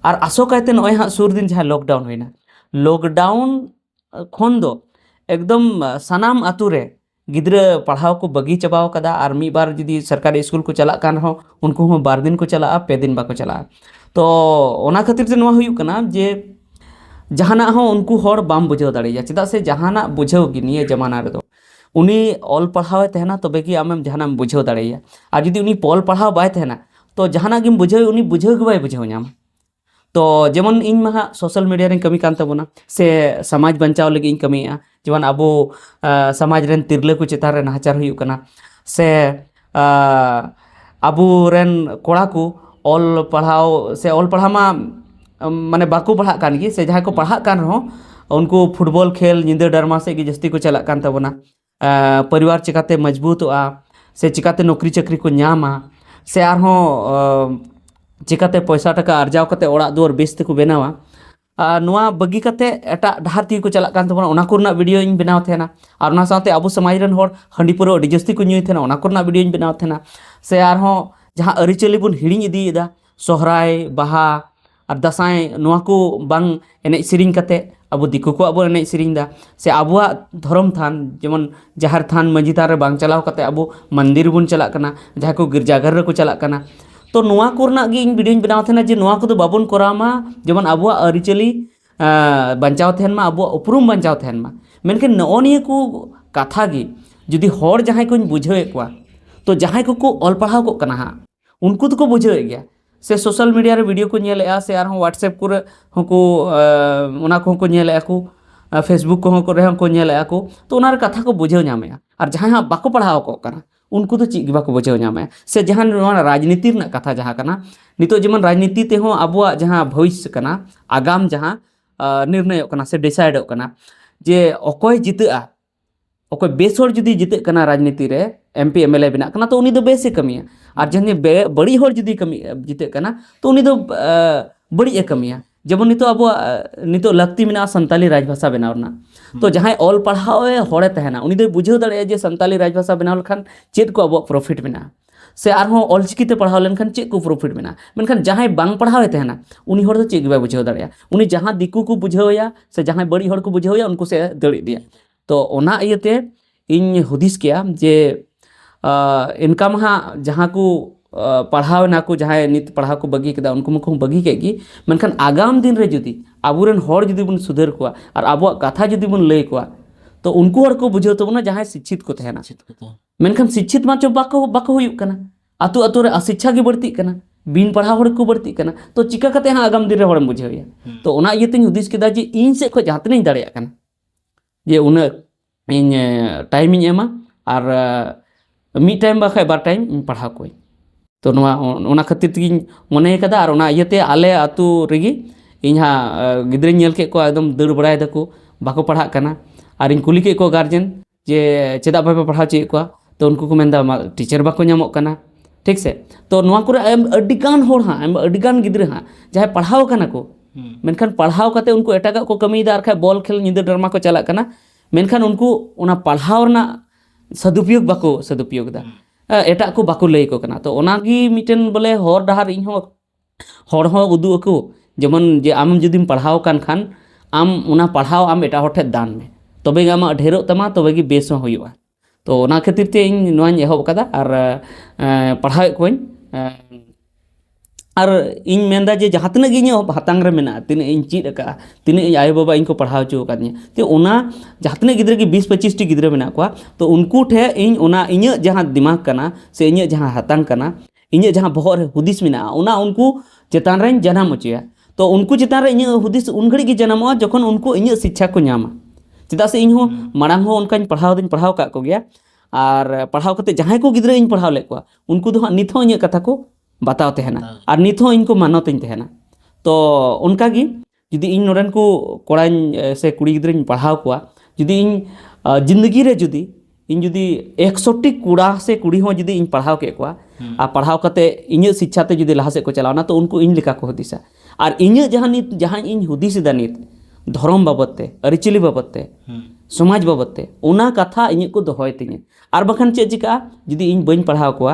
ᱟᱨ ᱟᱥᱚᱠᱟᱭᱛᱮ ᱱᱚᱜᱼᱚᱭ ᱦᱟᱸᱜ ᱥᱩᱨ ᱫᱤᱱ ᱡᱟᱦᱟᱸ ᱞᱚᱠᱰᱟᱣᱩᱱ ᱦᱩᱭᱱᱟ ᱞᱚᱠᱰᱟᱣᱩᱱ ᱠᱷᱚᱱ ᱫᱚ ᱮᱠᱫᱚᱢ ᱥᱟᱱᱟᱢ ᱟᱛᱳ ᱨᱮ ᱜᱤᱫᱽᱨᱟᱹ ᱯᱟᱲᱦᱟᱣ ᱠᱚ ᱵᱟᱹᱜᱤ ᱪᱟᱵᱟᱣ ᱠᱟᱫᱟ ᱟᱨ ᱢᱤᱫ ᱵᱟᱨ ᱡᱩᱫᱤ ᱥᱚᱨᱠᱟᱨᱤ ᱥᱠᱩᱞ ᱠᱚ ᱪᱟᱞᱟᱜ ᱠᱟᱱ ᱨᱮᱦᱚᱸ ᱩᱱᱠᱩ ᱦᱚᱸ ᱵᱟᱨ ᱫᱤᱱ ᱠᱚ ᱪᱟᱞᱟᱜᱼᱟ ᱯᱮ ᱫᱤᱱ ᱵᱟᱠᱚ ᱪᱟᱞᱟᱜᱼᱟ ᱛᱚ ᱚᱱᱟ ᱠᱷᱟᱹᱛᱤᱨ ᱛᱮ ᱱᱚᱣᱟ ᱦᱩᱭᱩᱜ ᱠᱟᱱᱟ ᱡᱮ ᱡᱟᱦᱟᱱᱟᱜ ᱦᱚᱸ ᱩᱱᱠᱩ ᱦᱚᱲ ᱵᱟᱢ ᱵᱩᱡᱷᱟᱹᱣ ᱫᱟᱲᱮᱭᱟᱭᱟ ᱪᱮᱫᱟᱜ ᱥᱮ ᱡᱟᱦᱟᱱᱟᱜ ᱵᱩᱡᱷᱟᱹᱣ ᱜᱮ ᱱᱤᱭᱟᱹ ᱡᱟᱢᱟᱱᱟ ᱨᱮᱫᱚ ᱩᱱᱤ ᱚᱞ ᱯᱟᱲᱦᱟᱣᱮ ᱛᱟᱦᱮᱱᱟ ᱛᱚᱵᱮ ᱜᱮ ᱟᱢᱮᱢ ᱡᱟᱦᱟᱱᱟᱜ ᱮᱢ ᱵᱩᱡᱷᱟᱹᱣ ᱫᱟᱲᱮᱭᱟᱭᱟ ᱟᱨ ᱡᱩᱫᱤ ᱩᱱᱤ ᱚᱞ ᱯᱟᱲᱦᱟᱣ ᱵᱟᱭ ᱛᱟᱦᱮᱱᱟ ᱛᱚ ᱡᱟᱦᱟᱱᱟᱜ ᱜᱮᱢ ᱵᱩᱡᱷᱟᱹᱣᱮ ᱩᱱᱤ ᱵᱩᱡᱷᱟᱹᱣ ᱜᱮ ᱵᱟᱭ ᱵᱩᱡᱷᱟᱹᱣ ᱧᱟᱢᱟ ᱛᱚ ᱡᱮᱢᱚᱱ ᱤᱧ ᱢᱟ ᱦᱟᱸᱜ ᱥᱳᱥᱟᱞ ᱢᱤᱰᱤᱭᱟ ᱨᱮᱧ ᱠᱟᱹᱢᱤ ᱠᱟᱱ ᱛᱟᱵᱚᱱᱟ ᱥᱮ ᱥᱚᱢᱟᱡᱽ ᱵᱟᱧᱪᱟᱣ ᱞᱟᱹᱜᱤᱫ ᱤᱧ ᱠᱟᱹᱢᱤᱭᱮᱫᱼᱟ ᱡᱮᱢᱚᱱ ᱟᱵᱚ ᱥᱚᱢᱟᱡᱽ ᱨᱮᱱ ᱛᱤᱨᱞᱟᱹ ᱠᱚ ᱪᱮᱛᱟᱱ ᱨᱮ ᱱᱟᱦᱟᱪᱟᱨ ᱦᱩᱭᱩᱜ ᱠᱟᱱᱟ ᱥᱮ ᱟᱵᱚ ᱨᱮᱱ ᱠᱚᱲᱟ ᱠᱚ ᱚᱞ ᱯᱟᱲᱦᱟᱣ ᱥᱮ ᱚᱞ ᱯᱟᱲᱦᱟᱣ ᱢᱟ ᱢᱟᱱᱮ ᱵᱟᱠᱚ ᱯᱟᱲᱦᱟᱜ ᱠᱟᱱ ᱜᱮ ᱥᱮ ᱡᱟᱦᱟᱸᱭ ᱠᱚ ᱯᱟᱲᱦᱟᱜ ᱠᱟᱱ ᱨᱮᱦᱚᱸ ᱩᱱᱠᱩ ᱯᱷᱩᱴᱵᱚᱞ ᱠᱷᱮᱞ ᱧᱤᱫᱟᱹ ᱰᱨᱟᱢᱟ ᱥᱮᱫ ᱜᱮ ᱡᱟᱹᱥᱛᱤ ᱠᱚ ᱪᱟᱞᱟᱜ ᱠᱟᱱ ᱛᱟᱵᱚᱱᱟ ᱯᱚᱨᱤᱵᱟᱨ ᱪᱤᱠᱟᱹᱛᱮ ᱢᱚᱡᱽᱵᱩᱛᱚᱜᱼᱟ ᱥᱮ ᱪᱤᱠᱟᱹᱛᱮ ᱱᱩᱠᱨᱤ ᱪᱟᱹᱠᱨᱤ ᱠᱚ ᱧᱟᱢᱟ ᱥᱮ ᱟᱨᱦᱚᱸ ᱪᱤᱠᱟᱹᱛᱮ ᱯᱚᱭᱥᱟ ᱴᱟᱠᱟ ᱟᱨᱡᱟᱣ ᱠᱟᱛᱮᱫ ᱚᱲᱟᱜ ᱫᱩᱣᱟᱹᱨ ᱵᱮᱥ ᱛᱮᱠᱚ ᱵᱮᱱᱟᱣᱟ ᱟᱨ ᱱᱚᱣᱟ ᱵᱟᱹᱜᱤ ᱠᱟᱛᱮᱫ ᱮᱴᱟᱜ ᱰᱟᱦᱟᱨ ᱛᱮᱜᱮ ᱠᱚ ᱪᱟᱞᱟᱜ ᱠᱟᱱ ᱛᱟᱵᱚᱱᱟ ᱚᱱᱟ ᱠᱚᱨᱮᱱᱟᱜ ᱵᱷᱤᱰᱭᱳ ᱤᱧ ᱵᱮᱱᱟᱣ ᱛᱟᱦᱮᱱᱟ ᱟᱨ ᱚᱱᱟ ᱥᱟᱶᱛᱮ ᱟᱵᱚ ᱥᱚᱢᱟᱡᱽ ᱨᱮᱱ ᱦᱚᱲ ᱦᱟᱺᱰᱤ ᱯᱟᱹᱣᱨᱟᱹ ᱟᱹᱰᱤ ᱡᱟᱹᱥᱛᱤ ᱠᱚ ᱧᱩᱭᱮᱫ ᱛᱟᱦᱮᱱᱟ ᱚᱱᱟ ᱠᱚᱨᱮᱱᱟᱜ ᱵᱷᱤᱰᱭᱳᱧ ᱵᱮᱱᱟᱣ ᱛᱟᱦᱮᱱᱟ ᱥᱮ ᱟᱨᱦᱚᱸ ᱡᱟᱦᱟᱸ ᱟᱹᱨᱤᱪᱟᱹᱞᱤ ᱵᱚᱱ ᱦᱤᱲᱤᱧ ᱤᱫᱤᱭᱮᱫᱟ ᱥᱚᱦᱨᱟᱭ ᱵᱟᱦᱟ ᱟᱨ ᱫᱟᱸᱥᱟᱭ ᱱᱚᱣᱟ ᱠᱚ ᱵᱟᱝ ᱮᱱᱮᱡ ᱥᱮᱨᱮᱧ ᱠᱟᱛᱮᱫ ᱟᱵᱚ ᱫᱤᱠᱩ ᱠᱚᱣᱟᱜ ᱵᱚᱱ ᱮᱱᱮᱡ ᱥᱮᱨᱮᱧ ᱮᱫᱟ ᱥᱮ ᱟᱵᱚᱣᱟᱜ ᱫᱷᱚᱨᱚᱢ ᱛᱷᱟᱱ ᱡᱮᱢᱚᱱ ᱡᱟᱦᱮᱨ ᱛᱷᱟᱱ ᱢᱟᱹᱡᱷᱤ ᱛᱷᱟᱱ ᱨᱮ ᱵᱟᱝ ᱪᱟᱞᱟᱣ ᱠᱟᱛᱮᱫ ᱟᱵᱚ ᱢᱚᱱᱫᱤᱨ ᱵᱚᱱ ᱪᱟᱞᱟᱜ ᱠᱟᱱᱟ ᱡᱟᱦᱟᱸᱭ ᱠᱚ ᱜᱤᱨᱡᱟ ᱜᱷᱚᱨ ᱨᱮᱠᱚ ᱪᱟᱞᱟᱜ ᱠᱟᱱᱟ ᱛᱳ ᱱᱚᱣᱟ ᱠᱚᱨᱮᱱᱟᱜ ᱜᱮ ᱤᱧ ᱵᱷᱤᱰᱭᱳᱧ ᱵᱮᱱᱟᱣ ᱛᱟᱦᱮᱱᱟ ᱡᱮ ᱱᱚᱣᱟ ᱠᱚᱫᱚ ᱵᱟᱵᱚᱱ ᱠᱚᱨᱟᱣ ᱢᱟ ᱡᱮᱢᱚᱱ ᱟᱵᱚᱣᱟᱜ ᱟᱹᱨᱤᱪᱟᱹᱞᱤ ᱵᱟᱧᱪᱟᱣ ᱛᱟᱦᱮᱱ ᱢᱟ ᱟᱵᱚᱣᱟᱜ ᱩᱯᱨᱩᱢ ᱵᱟᱧᱪᱟᱣ ᱛᱟᱦᱮᱱ ᱢᱟ ᱢᱮᱱᱠᱷᱟᱱ ᱱᱚᱜᱼᱚ ᱱᱤᱭᱟᱹ ᱠᱚ ᱠᱟᱛᱷᱟ ᱜᱮ ᱡᱩᱫᱤ ᱦᱚᱲ ᱡᱟᱦᱟᱸᱭ ᱠᱚᱧ ᱵᱩᱡᱷᱟᱹᱣᱮᱫ ᱠᱚᱣᱟ ᱛᱳ ᱡᱟᱦᱟᱸᱭ ᱠᱚᱠᱚ ᱚᱞ ᱯᱟᱲᱦᱟᱣ ᱠᱚᱜ ᱠᱟᱱᱟ ᱦᱟᱸᱜ ᱩᱱᱠᱩ ᱫᱚᱠᱚ ᱵᱩᱡᱷᱟᱹᱣᱮᱫ ᱜᱮᱭᱟ ᱥᱮ ᱥᱳᱥᱟᱞ ᱢᱤᱰᱤᱭᱟ ᱨᱮ ᱵᱷᱤᱰᱤᱭᱳ ᱠᱚ ᱧᱮᱞᱮᱫᱼᱟ ᱥᱮ ᱟᱨᱦᱚᱸ ᱦᱳᱣᱟᱴᱥᱮᱯ ᱠᱚᱨᱮ ᱦᱚᱸᱠᱚ ᱚᱱᱟ ᱠᱚᱦᱚᱸ ᱠᱚ ᱧᱮᱞᱮᱫᱼᱟ ᱠᱚ ᱯᱷᱮᱥᱵᱩᱠ ᱠᱚᱦᱚᱸ ᱠᱚᱨᱮ ᱦᱚᱸ ᱠᱚ ᱧᱮᱞᱮᱫᱼᱟ ᱠᱚ ᱛᱚ ᱚᱱᱟ ᱨᱮ ᱠᱟᱛᱷᱟ ᱠᱚ ᱵᱩᱡᱷᱟᱹᱣ ᱧᱟᱢᱮᱫᱼᱟ ᱟᱨ ᱡᱟᱦᱟᱸᱭ ᱦᱟᱸᱜ ᱵᱟᱠᱚ ᱯᱟᱲᱦᱟᱣ ᱠᱚᱜ ᱠᱟᱱᱟ ᱩᱱᱠᱩ ᱫᱚ ᱪᱮᱫ ᱜᱮ ᱵᱟᱠᱚ ᱵᱩᱡᱷᱟᱹᱣ ᱧᱟᱢᱮᱫᱼᱟ ᱥᱮ ᱡᱟᱦᱟᱸ ᱱᱚᱣᱟ ᱨᱟᱡᱽᱱᱤᱛᱤ ᱨᱮᱱᱟᱜ ᱠᱟᱛᱷᱟ ᱡᱟᱦᱟᱸ ᱠᱟᱱᱟ ᱱᱤᱛᱚᱜ ᱡᱮᱢᱚᱱ ᱨᱟᱡᱽᱱᱤᱛᱤ ᱛᱮᱦᱚᱸ ᱟᱵᱚᱣᱟᱜ ᱡᱟᱦᱟᱸ ᱵᱷᱚᱵᱤᱥᱥᱚ ᱠᱟᱱᱟ ᱟᱜᱟᱢ ᱡᱟᱦᱟᱸ ᱱᱤᱨᱱᱚᱭᱚᱜ ᱠᱟᱱᱟ ᱥᱮ ᱰᱤᱥᱟᱭᱤᱰᱚᱜ ᱠᱟᱱᱟ ᱡᱮ ᱚᱠᱚᱭ ᱡᱤᱛᱟᱹᱜᱼᱟ ᱚᱠᱚᱭ ᱵᱮᱥ ᱦᱚᱲ ᱡᱩᱫᱤ ᱡᱤᱛᱟᱹᱜ ᱠᱟᱱᱟ ᱨᱟᱡᱽᱱᱤᱛᱤ ᱨᱮ M P M L A ᱵᱮᱱᱟᱜ ᱠᱟᱱᱟ ᱛᱚ ᱩᱱᱤ ᱫᱚ ᱵᱮᱥᱮ ᱠᱟᱹᱢᱤᱭᱟ ᱟᱨ ᱡᱟᱦᱟᱸᱭ ᱵᱟᱹᱲᱤᱡ ᱦᱚᱲ ᱡᱩᱫᱤ ᱠᱟᱹᱢᱤ ᱡᱤᱛᱟᱹᱜ ᱠᱟᱱᱟ ᱛᱚ ᱩᱱᱤ ᱫᱚ ᱵᱟᱹᱲᱤᱡ ᱮ ᱠᱟᱹᱢᱤᱭᱟ ᱡᱮᱢᱚᱱ ᱱᱤᱛᱚᱜ ᱟᱵᱚᱣᱟᱜ ᱱᱤᱛᱚᱜ ᱞᱟᱹᱠᱛᱤ ᱢᱮᱱᱟᱜᱼᱟ ᱥᱟᱱᱛᱟᱞᱤ ᱨᱟᱡᱽ ᱵᱷᱟᱥᱟ ᱵᱮᱱᱟᱣ ᱨᱮᱱᱟᱜ ᱛᱚ ᱡᱟᱦᱟᱸᱭ ᱚᱞ ᱯᱟᱲᱦᱟᱣ ᱮ ᱦᱚᱲᱮ ᱛᱟᱦᱮᱱᱟ ᱩᱱᱤ ᱫᱚᱭ ᱵᱩᱡᱷᱟᱹᱣ ᱫᱟᱲᱮᱭᱟᱜᱼᱟ ᱡᱮ ᱥᱟᱱᱛᱟᱞᱤ ᱨᱟᱡᱽ ᱵᱷᱟᱥᱟ ᱵᱮᱱᱟᱣ ᱞᱮᱠᱷᱟᱱ ᱪᱮᱫ ᱠᱚ ᱟᱵᱚᱣᱟᱜ ᱯᱨᱚᱯᱷᱤᱴ ᱢᱮᱱᱟᱜᱼᱟ ᱥᱮ ᱟᱨᱦᱚᱸ ᱚᱞᱪᱤᱠᱤᱛᱮ ᱯᱟᱲᱦᱟᱣ ᱞᱮᱱᱠᱷᱟᱱ ᱪᱮᱫ ᱠᱚ ᱯᱨᱚᱯᱷᱤᱴ ᱢᱮᱱᱟᱜᱼᱟ ᱢᱮᱱᱠᱷᱟᱱ ᱡᱟᱦᱟᱸᱭ ᱵᱟᱝ ᱯᱟᱲᱦᱟᱣᱮ ᱛᱟᱦᱮᱱᱟ ᱩᱱᱤ ᱦᱚᱲ ᱫᱚ ᱪᱮᱫ ᱜᱮ ᱵᱟᱭ ᱵᱩᱡᱷᱟᱹᱣ ᱫᱟᱲᱮᱭᱟᱜᱼᱟ ᱩᱱᱤ ᱡᱟᱦᱟᱸ ᱫᱤᱠᱩ ᱠᱚ ᱵᱩᱡᱷᱟᱹᱣ ᱮᱭᱟ ᱥᱮ ᱡᱟᱦᱟᱸᱭ ᱵᱟᱹᱲᱤᱡ ᱦᱚᱲ ᱠᱚ ᱵᱩᱡᱷᱟᱹᱣ ᱮᱭᱟ ᱩᱱᱠᱩ ᱥᱮᱫ ᱮ ᱫᱟᱹᱲ ᱤᱫᱤᱭᱟ ᱛᱚ ᱚᱱᱟ ᱤᱭᱟᱹᱛᱮ ᱤᱧ ᱦᱩᱫᱤᱥ ᱠᱮᱜᱼᱟ ᱡᱮ ᱤᱱᱠᱟ ᱢᱟ ᱦᱟᱸᱜ ᱡᱟᱦᱟᱸ ᱠᱚ ᱯᱟᱲᱦᱟᱣ ᱮᱱᱟ ᱠᱚ ᱡᱟᱦᱟᱸᱭ ᱱᱤᱛ ᱯᱟᱲᱦᱟᱣ ᱠᱚ ᱵᱟᱹᱜᱤ ᱠᱮᱫᱟ ᱩᱱᱠᱩ ᱢᱟᱠᱚ ᱵᱟᱹᱜᱤ ᱠᱮᱫ ᱜᱮ ᱢᱮᱱᱠᱷᱟᱱ ᱟᱜᱟᱢ ᱫᱤᱱ ᱨᱮ ᱡᱩᱫᱤ ᱟᱵᱚᱨᱮᱱ ᱦᱚᱲ ᱡᱩᱫᱤ ᱵᱚᱱ ᱥᱩᱫᱷᱟᱹᱨ ᱠᱚᱣᱟ ᱟᱨ ᱟᱵᱚᱣᱟᱜ ᱠᱟᱛᱷᱟ ᱡᱩᱫᱤ ᱵᱚᱱ ᱞᱟᱹᱭ ᱟᱠᱚᱣᱟ ᱛᱚ ᱩᱱᱠᱩ ᱦᱚᱲ ᱠᱚ ᱵᱩᱡᱷᱟᱹᱣ ᱛᱟᱵᱚᱱᱟ ᱡᱟᱦᱟᱸᱭ ᱥᱤᱪᱪᱷᱤᱛ ᱠᱚ ᱛᱟᱦᱮᱱᱟ ᱢᱮᱱᱠᱷᱟᱱ ᱥᱤᱪᱪᱷᱤᱛ ᱢᱟ ᱪᱚ ᱵᱟᱠᱚ ᱵᱟᱠᱚ ᱦᱩᱭᱩᱜ ᱠᱟᱱᱟ ᱟᱛᱳ ᱟᱛᱳ ᱨᱮ ᱟᱥᱤᱪᱪᱷᱟ ᱜᱮ ᱵᱟᱹᱲᱛᱤᱜ ᱠᱟᱱᱟ ᱵᱤᱱ ᱯᱟᱲᱦᱟᱣ ᱦᱚᱲ ᱠᱚ ᱵᱟᱹᱲᱛᱤᱜ ᱠᱟᱱᱟ ᱛᱚ ᱪᱤᱠᱟ ᱠᱟᱛᱮ ᱦᱟᱸᱜ ᱟᱜᱟᱢ ᱫᱤᱱ ᱨᱮ ᱦᱚᱲᱮᱢ ᱵᱩᱡᱷᱟᱹᱣᱮᱭᱟ ᱛᱚ ᱚᱱᱟ ᱤᱭᱟᱹ ᱛᱤᱧ ᱦᱩᱫᱤᱥ ᱠᱮᱫᱟ ᱡᱮ ᱤᱧ ᱥᱮᱫ ᱠᱷᱚᱱ ᱡᱟᱦᱟᱸ ᱛᱤᱱᱟᱹᱜ ᱤᱧ ᱫᱟᱲᱮᱭᱟᱜ ᱠᱟᱱᱟ ᱡᱮ ᱩᱱᱟᱹᱜ ᱤᱧ ᱴᱟᱭᱤᱢᱤᱧ ᱮᱢᱟ ᱟᱨ ᱢᱤᱫ ᱴᱟᱭᱤᱢ ᱵᱟᱠᱷᱟᱡ ᱵᱟᱨ ᱴᱟᱭᱤᱢ ᱤᱧ ᱯᱟᱲᱦᱟᱣ ᱠᱚᱣᱟᱹᱧ ᱛᱚ ᱱᱚᱣᱟ ᱚᱱᱟ ᱠᱷᱟᱹᱛᱤᱨ ᱛᱮᱜᱤᱧ ᱢᱚᱱᱮ ᱠᱟᱫᱟ ᱟᱨ ᱚᱱᱟ ᱤᱭᱟᱹᱛᱮ ᱟᱞᱮ ᱟᱛᱳ ᱨᱮᱜᱮ ᱤᱧ ᱦᱟᱸᱜ ᱜᱤᱫᱽᱨᱟᱹᱧ ᱧᱮᱞ ᱠᱮᱫ ᱠᱚᱣᱟ ᱮᱠᱫᱚᱢ ᱫᱟᱹᱲ ᱵᱟᱲᱟᱭ ᱫᱟᱠᱚ ᱵᱟᱠᱚ ᱯᱟᱲᱦᱟᱜ ᱠᱟᱱᱟ ᱟᱨᱤᱧ ᱠᱩᱞᱤ ᱠᱮᱫ ᱠᱚᱣᱟ ᱜᱟᱨᱡᱮᱱ ᱡᱮ ᱪᱮᱫᱟᱜ ᱵᱟᱯᱮ ᱯᱟᱲᱦᱟᱣ ᱦᱚᱪᱚᱭᱮᱫ ᱠᱚᱣᱟ ᱛᱚ ᱩᱱᱠᱩ ᱠᱚ ᱢᱮᱱᱫᱟ ᱴᱤᱪᱟᱨ ᱵᱟᱠᱚ ᱧᱟᱢᱚᱜ ᱠᱟᱱᱟ ᱴᱷᱤᱠ ᱥᱮ ᱛᱚ ᱱᱚᱣᱟ ᱠᱚᱨᱮ ᱟᱹᱰᱤᱜᱟᱱ ᱦᱚᱲ ᱦᱟᱸᱜ ᱟᱹᱰᱤᱜᱟᱱ ᱜᱤᱫᱽᱨᱟᱹ ᱦᱟᱸᱜ ᱡᱟᱦᱟᱸᱭ ᱯᱟᱲᱦᱟᱣ ᱠᱟᱱᱟ ᱠᱚ ᱢᱮᱱᱠᱷᱟᱱ ᱯᱟᱲᱦᱟᱣ ᱠᱟᱛᱮ ᱩᱱᱠᱩ ᱮᱴᱟᱜᱟᱜ ᱠᱚ ᱠᱟᱹᱢᱤᱭᱮᱫᱟ ᱟᱨ ᱠᱷᱟᱡ ᱵᱚᱞ ᱠᱷᱮᱞ ᱧᱤᱫᱟᱹ ᱰᱨᱟᱢᱟ ᱠᱚ ᱪᱟᱞᱟᱜ ᱠᱟᱱᱟ ᱢᱮᱱᱠᱷᱟᱱ ᱩᱱᱠᱩ ᱚᱱᱟ ᱯᱟᱲᱦᱟᱣ ᱨᱮᱱᱟᱜ ᱥᱚᱫᱩᱯᱚᱭᱳᱜᱽ ᱵᱟᱠᱚ ᱥᱚᱫᱩᱯᱚᱭᱳᱜᱽ ᱮᱫᱟ ᱮᱴᱟᱜ ᱠᱚ ᱵᱟᱠᱚ ᱞᱟᱹᱭ ᱟᱠᱚ ᱠᱟᱱᱟ ᱛᱚ ᱚᱱᱟᱜᱮ ᱢᱤᱫᱴᱮᱱ ᱵᱚᱞᱮ ᱦᱚᱨ ᱰᱟᱦᱟᱨ ᱤᱧ ᱦᱚᱸ ᱦᱚᱲ ᱦᱚᱸ ᱩᱫᱩᱜ ᱟᱠᱚ ᱡᱮᱢᱚᱱ ᱡᱮ ᱟᱢ ᱡᱩᱫᱤᱢ ᱯᱟᱲᱦᱟᱣ ᱟᱠᱟᱱ ᱠᱷᱟᱱ ᱟᱢ ᱚᱱᱟ ᱯᱟᱲᱦᱟᱣ ᱟᱢ ᱮᱴᱟᱜ ᱦᱚᱲ ᱴᱷᱮᱱ ᱫᱟᱱ ᱢᱮ ᱛᱚᱵᱮ ᱜᱮ ᱟᱢᱟᱜ ᱰᱷᱮᱨᱚᱜ ᱛᱟᱢᱟ ᱛᱚᱵᱮ ᱜᱮ ᱵᱮᱥ ᱦᱚᱸ ᱦᱩᱭᱩᱜᱼᱟ ᱛᱚ ᱚᱱᱟ ᱠᱷᱟᱹᱛᱤᱨ ᱛᱮ ᱤᱧ ᱱᱚᱣᱟᱧ ᱮᱦᱚᱵ ᱠᱟᱫᱟ ᱟᱨ ᱯᱟᱲᱦᱟᱣᱮᱫ ᱠᱚᱣᱟᱧ ᱟᱨ ᱤᱧ ᱢᱮᱱᱫᱟ ᱡᱮ ᱡᱟᱦᱟᱸ ᱛᱤᱱᱟᱹᱜ ᱜᱮ ᱤᱧᱟᱹᱜ ᱦᱟᱛᱟᱝ ᱨᱮ ᱢᱮᱱᱟᱜᱼᱟ ᱛᱤᱱᱟᱹᱜ ᱤᱧ ᱪᱮᱫ ᱟᱠᱟᱫᱼᱟ ᱛᱤᱱᱟᱹᱜ ᱤᱧ ᱟᱭᱳᱼᱵᱟᱵᱟ ᱤᱧ ᱠᱚ ᱯᱟᱲᱦᱟᱣ ᱦᱚᱪᱚ ᱟᱠᱟᱫᱤᱧᱟ ᱛᱚ ᱚᱱᱟ ᱡᱟᱦᱟᱸ ᱛᱤᱱᱟᱹᱜ ᱜᱤᱫᱽᱨᱟᱹ ᱜᱮ ᱵᱤᱥ ᱯᱚᱸᱪᱤᱥ ᱴᱤ ᱜᱤᱫᱽᱨᱟᱹ ᱢᱮᱱᱟᱜ ᱠᱚᱣᱟ ᱛᱚ ᱩᱱᱠᱩ ᱴᱷᱮᱱ ᱤᱧ ᱚᱱᱟ ᱤᱧᱟᱹᱜ ᱡᱟᱦᱟᱸ ᱫᱤᱢᱟᱜᱽ ᱠᱟᱱᱟ ᱥᱮ ᱤᱧᱟᱹᱜ ᱡᱟᱦᱟᱸ ᱦᱟᱛᱟᱝ ᱠᱟᱱᱟ ᱤᱧᱟᱹᱜ ᱡᱟᱦᱟᱸ ᱵᱚᱦᱚᱜ ᱨᱮ ᱦᱩᱫᱤᱥ ᱢᱮᱱᱟᱜᱼᱟ ᱚᱱᱟ ᱩᱱᱠᱩ ᱪᱮᱛᱟᱱ ᱨᱮᱧ ᱡᱟᱱᱟᱢ ᱦᱚᱪᱚᱭᱟ ᱛᱚ ᱩᱱᱠᱩ ᱪᱮᱛᱟᱱ ᱨᱮ ᱤᱧᱟᱹᱜ ᱦᱩᱫᱤᱥ ᱩᱱ ᱜᱷᱟᱹᱲᱤᱡ ᱜᱮ ᱡᱟᱱᱟᱢᱚᱜᱼᱟ ᱡᱚᱠᱷᱚᱱ ᱩᱱᱠᱩ ᱤᱧᱟᱹᱜ ᱥᱤᱠᱠᱷᱟ ᱠᱚ ᱧᱟᱢᱟ ᱪᱮᱫᱟᱜ ᱥᱮ ᱤᱧ ᱦᱚᱸ ᱢᱟᱲᱟᱝ ᱦᱚᱸ ᱚᱱᱠᱟᱧ ᱯᱟᱲᱦᱟᱣ ᱫᱚᱧ ᱯᱟᱲᱦᱟᱣ ᱟᱠᱟᱫ ᱠᱚᱜᱮᱭᱟ ᱟᱨ ᱯᱟᱲᱦᱟᱣ ᱠᱟᱛᱮ ᱡᱟᱦᱟᱸᱭ ᱠᱚ ᱜᱤᱫᱽᱨᱟᱹ ᱤᱧ ᱯᱟᱲᱦᱟᱣ ᱞᱮᱫ ᱠᱚᱣᱟ ᱩᱱᱠᱩ ᱫᱚ ᱦᱟᱸᱜ ᱱᱤᱛ ᱦᱚᱸ ᱤᱧᱟᱹᱜ ᱠᱟᱛᱷᱟ ᱠᱚ ᱵᱟᱛᱟᱣ ᱛᱟᱦᱮᱱᱟ ᱟᱨ ᱱᱤᱛ ᱦᱚᱸ ᱤᱧ ᱠᱚ ᱢᱟᱱᱚᱛ ᱤᱧ ᱛᱟᱦᱮᱱᱟ ᱛᱚ ᱚᱱᱠᱟ ᱜᱮ ᱡᱩᱫᱤ ᱤᱧ ᱱᱚᱰᱮᱱ ᱠᱚ ᱠᱚᱲᱟᱧ ᱥᱮ ᱠᱩᱲᱤ ᱜᱤᱫᱽᱨᱟᱹᱧ ᱯᱟᱲᱦᱟᱣ ᱠᱚᱣᱟ ᱡᱩᱫᱤ ᱤᱧ ᱡᱤᱱᱫᱮᱜᱤ ᱨᱮ ᱡᱩᱫᱤ ᱤᱧ ᱡᱩᱫᱤ ᱮᱠᱥᱚᱴᱤ ᱠᱚᱲᱟ ᱥᱮ ᱠᱩᱲᱤ ᱦᱚᱸ ᱡᱩᱫᱤ ᱤᱧ ᱯᱟᱲᱦᱟᱣ ᱠᱮᱫ ᱠᱚᱣᱟ ᱟᱨ ᱯᱟᱲᱦᱟᱣ ᱠᱟᱛᱮ ᱤᱧᱟᱹᱜ ᱥᱤᱪᱪᱷᱟ ᱛᱮ ᱡᱩᱫᱤ ᱞᱟᱦᱟ ᱥᱮᱫ ᱠᱚ ᱪᱟᱞᱟᱣᱱᱟ ᱛᱚ ᱩᱱᱠᱩ ᱤᱧ ᱞᱮᱠᱟ ᱠᱚ ᱦᱩᱫᱤᱥᱟ ᱟᱨ ᱤᱧᱟᱹᱜ ᱡᱟᱦᱟᱸ ᱱᱤᱛ ᱡᱟᱦᱟᱸ ᱤᱧ ᱦᱩᱫᱤᱥ ᱮᱫᱟ ᱱᱤᱛ ᱫᱷᱚᱨᱚᱢ ᱵᱟᱵᱚᱫ ᱛᱮ ᱟᱹᱨᱤᱪᱟᱹᱞᱤ ᱵᱟᱵᱚᱫ ᱛᱮ ᱥᱚᱢᱟᱡᱽ ᱵᱟᱵᱚᱫ ᱛᱮ ᱚᱱᱟ ᱠᱟᱛᱷᱟ ᱤᱧᱟᱹᱜ ᱠᱚ ᱫᱚᱦᱚᱭ ᱛᱤᱧᱟᱹ ᱟᱨ ᱵᱟᱠᱷᱟᱱ ᱪᱮᱫ ᱪᱤᱠᱟᱹᱜᱼᱟ ᱡᱩᱫᱤ ᱤᱧ ᱵᱟᱹᱧ ᱯᱟᱲᱦᱟᱣ ᱠᱚᱣᱟ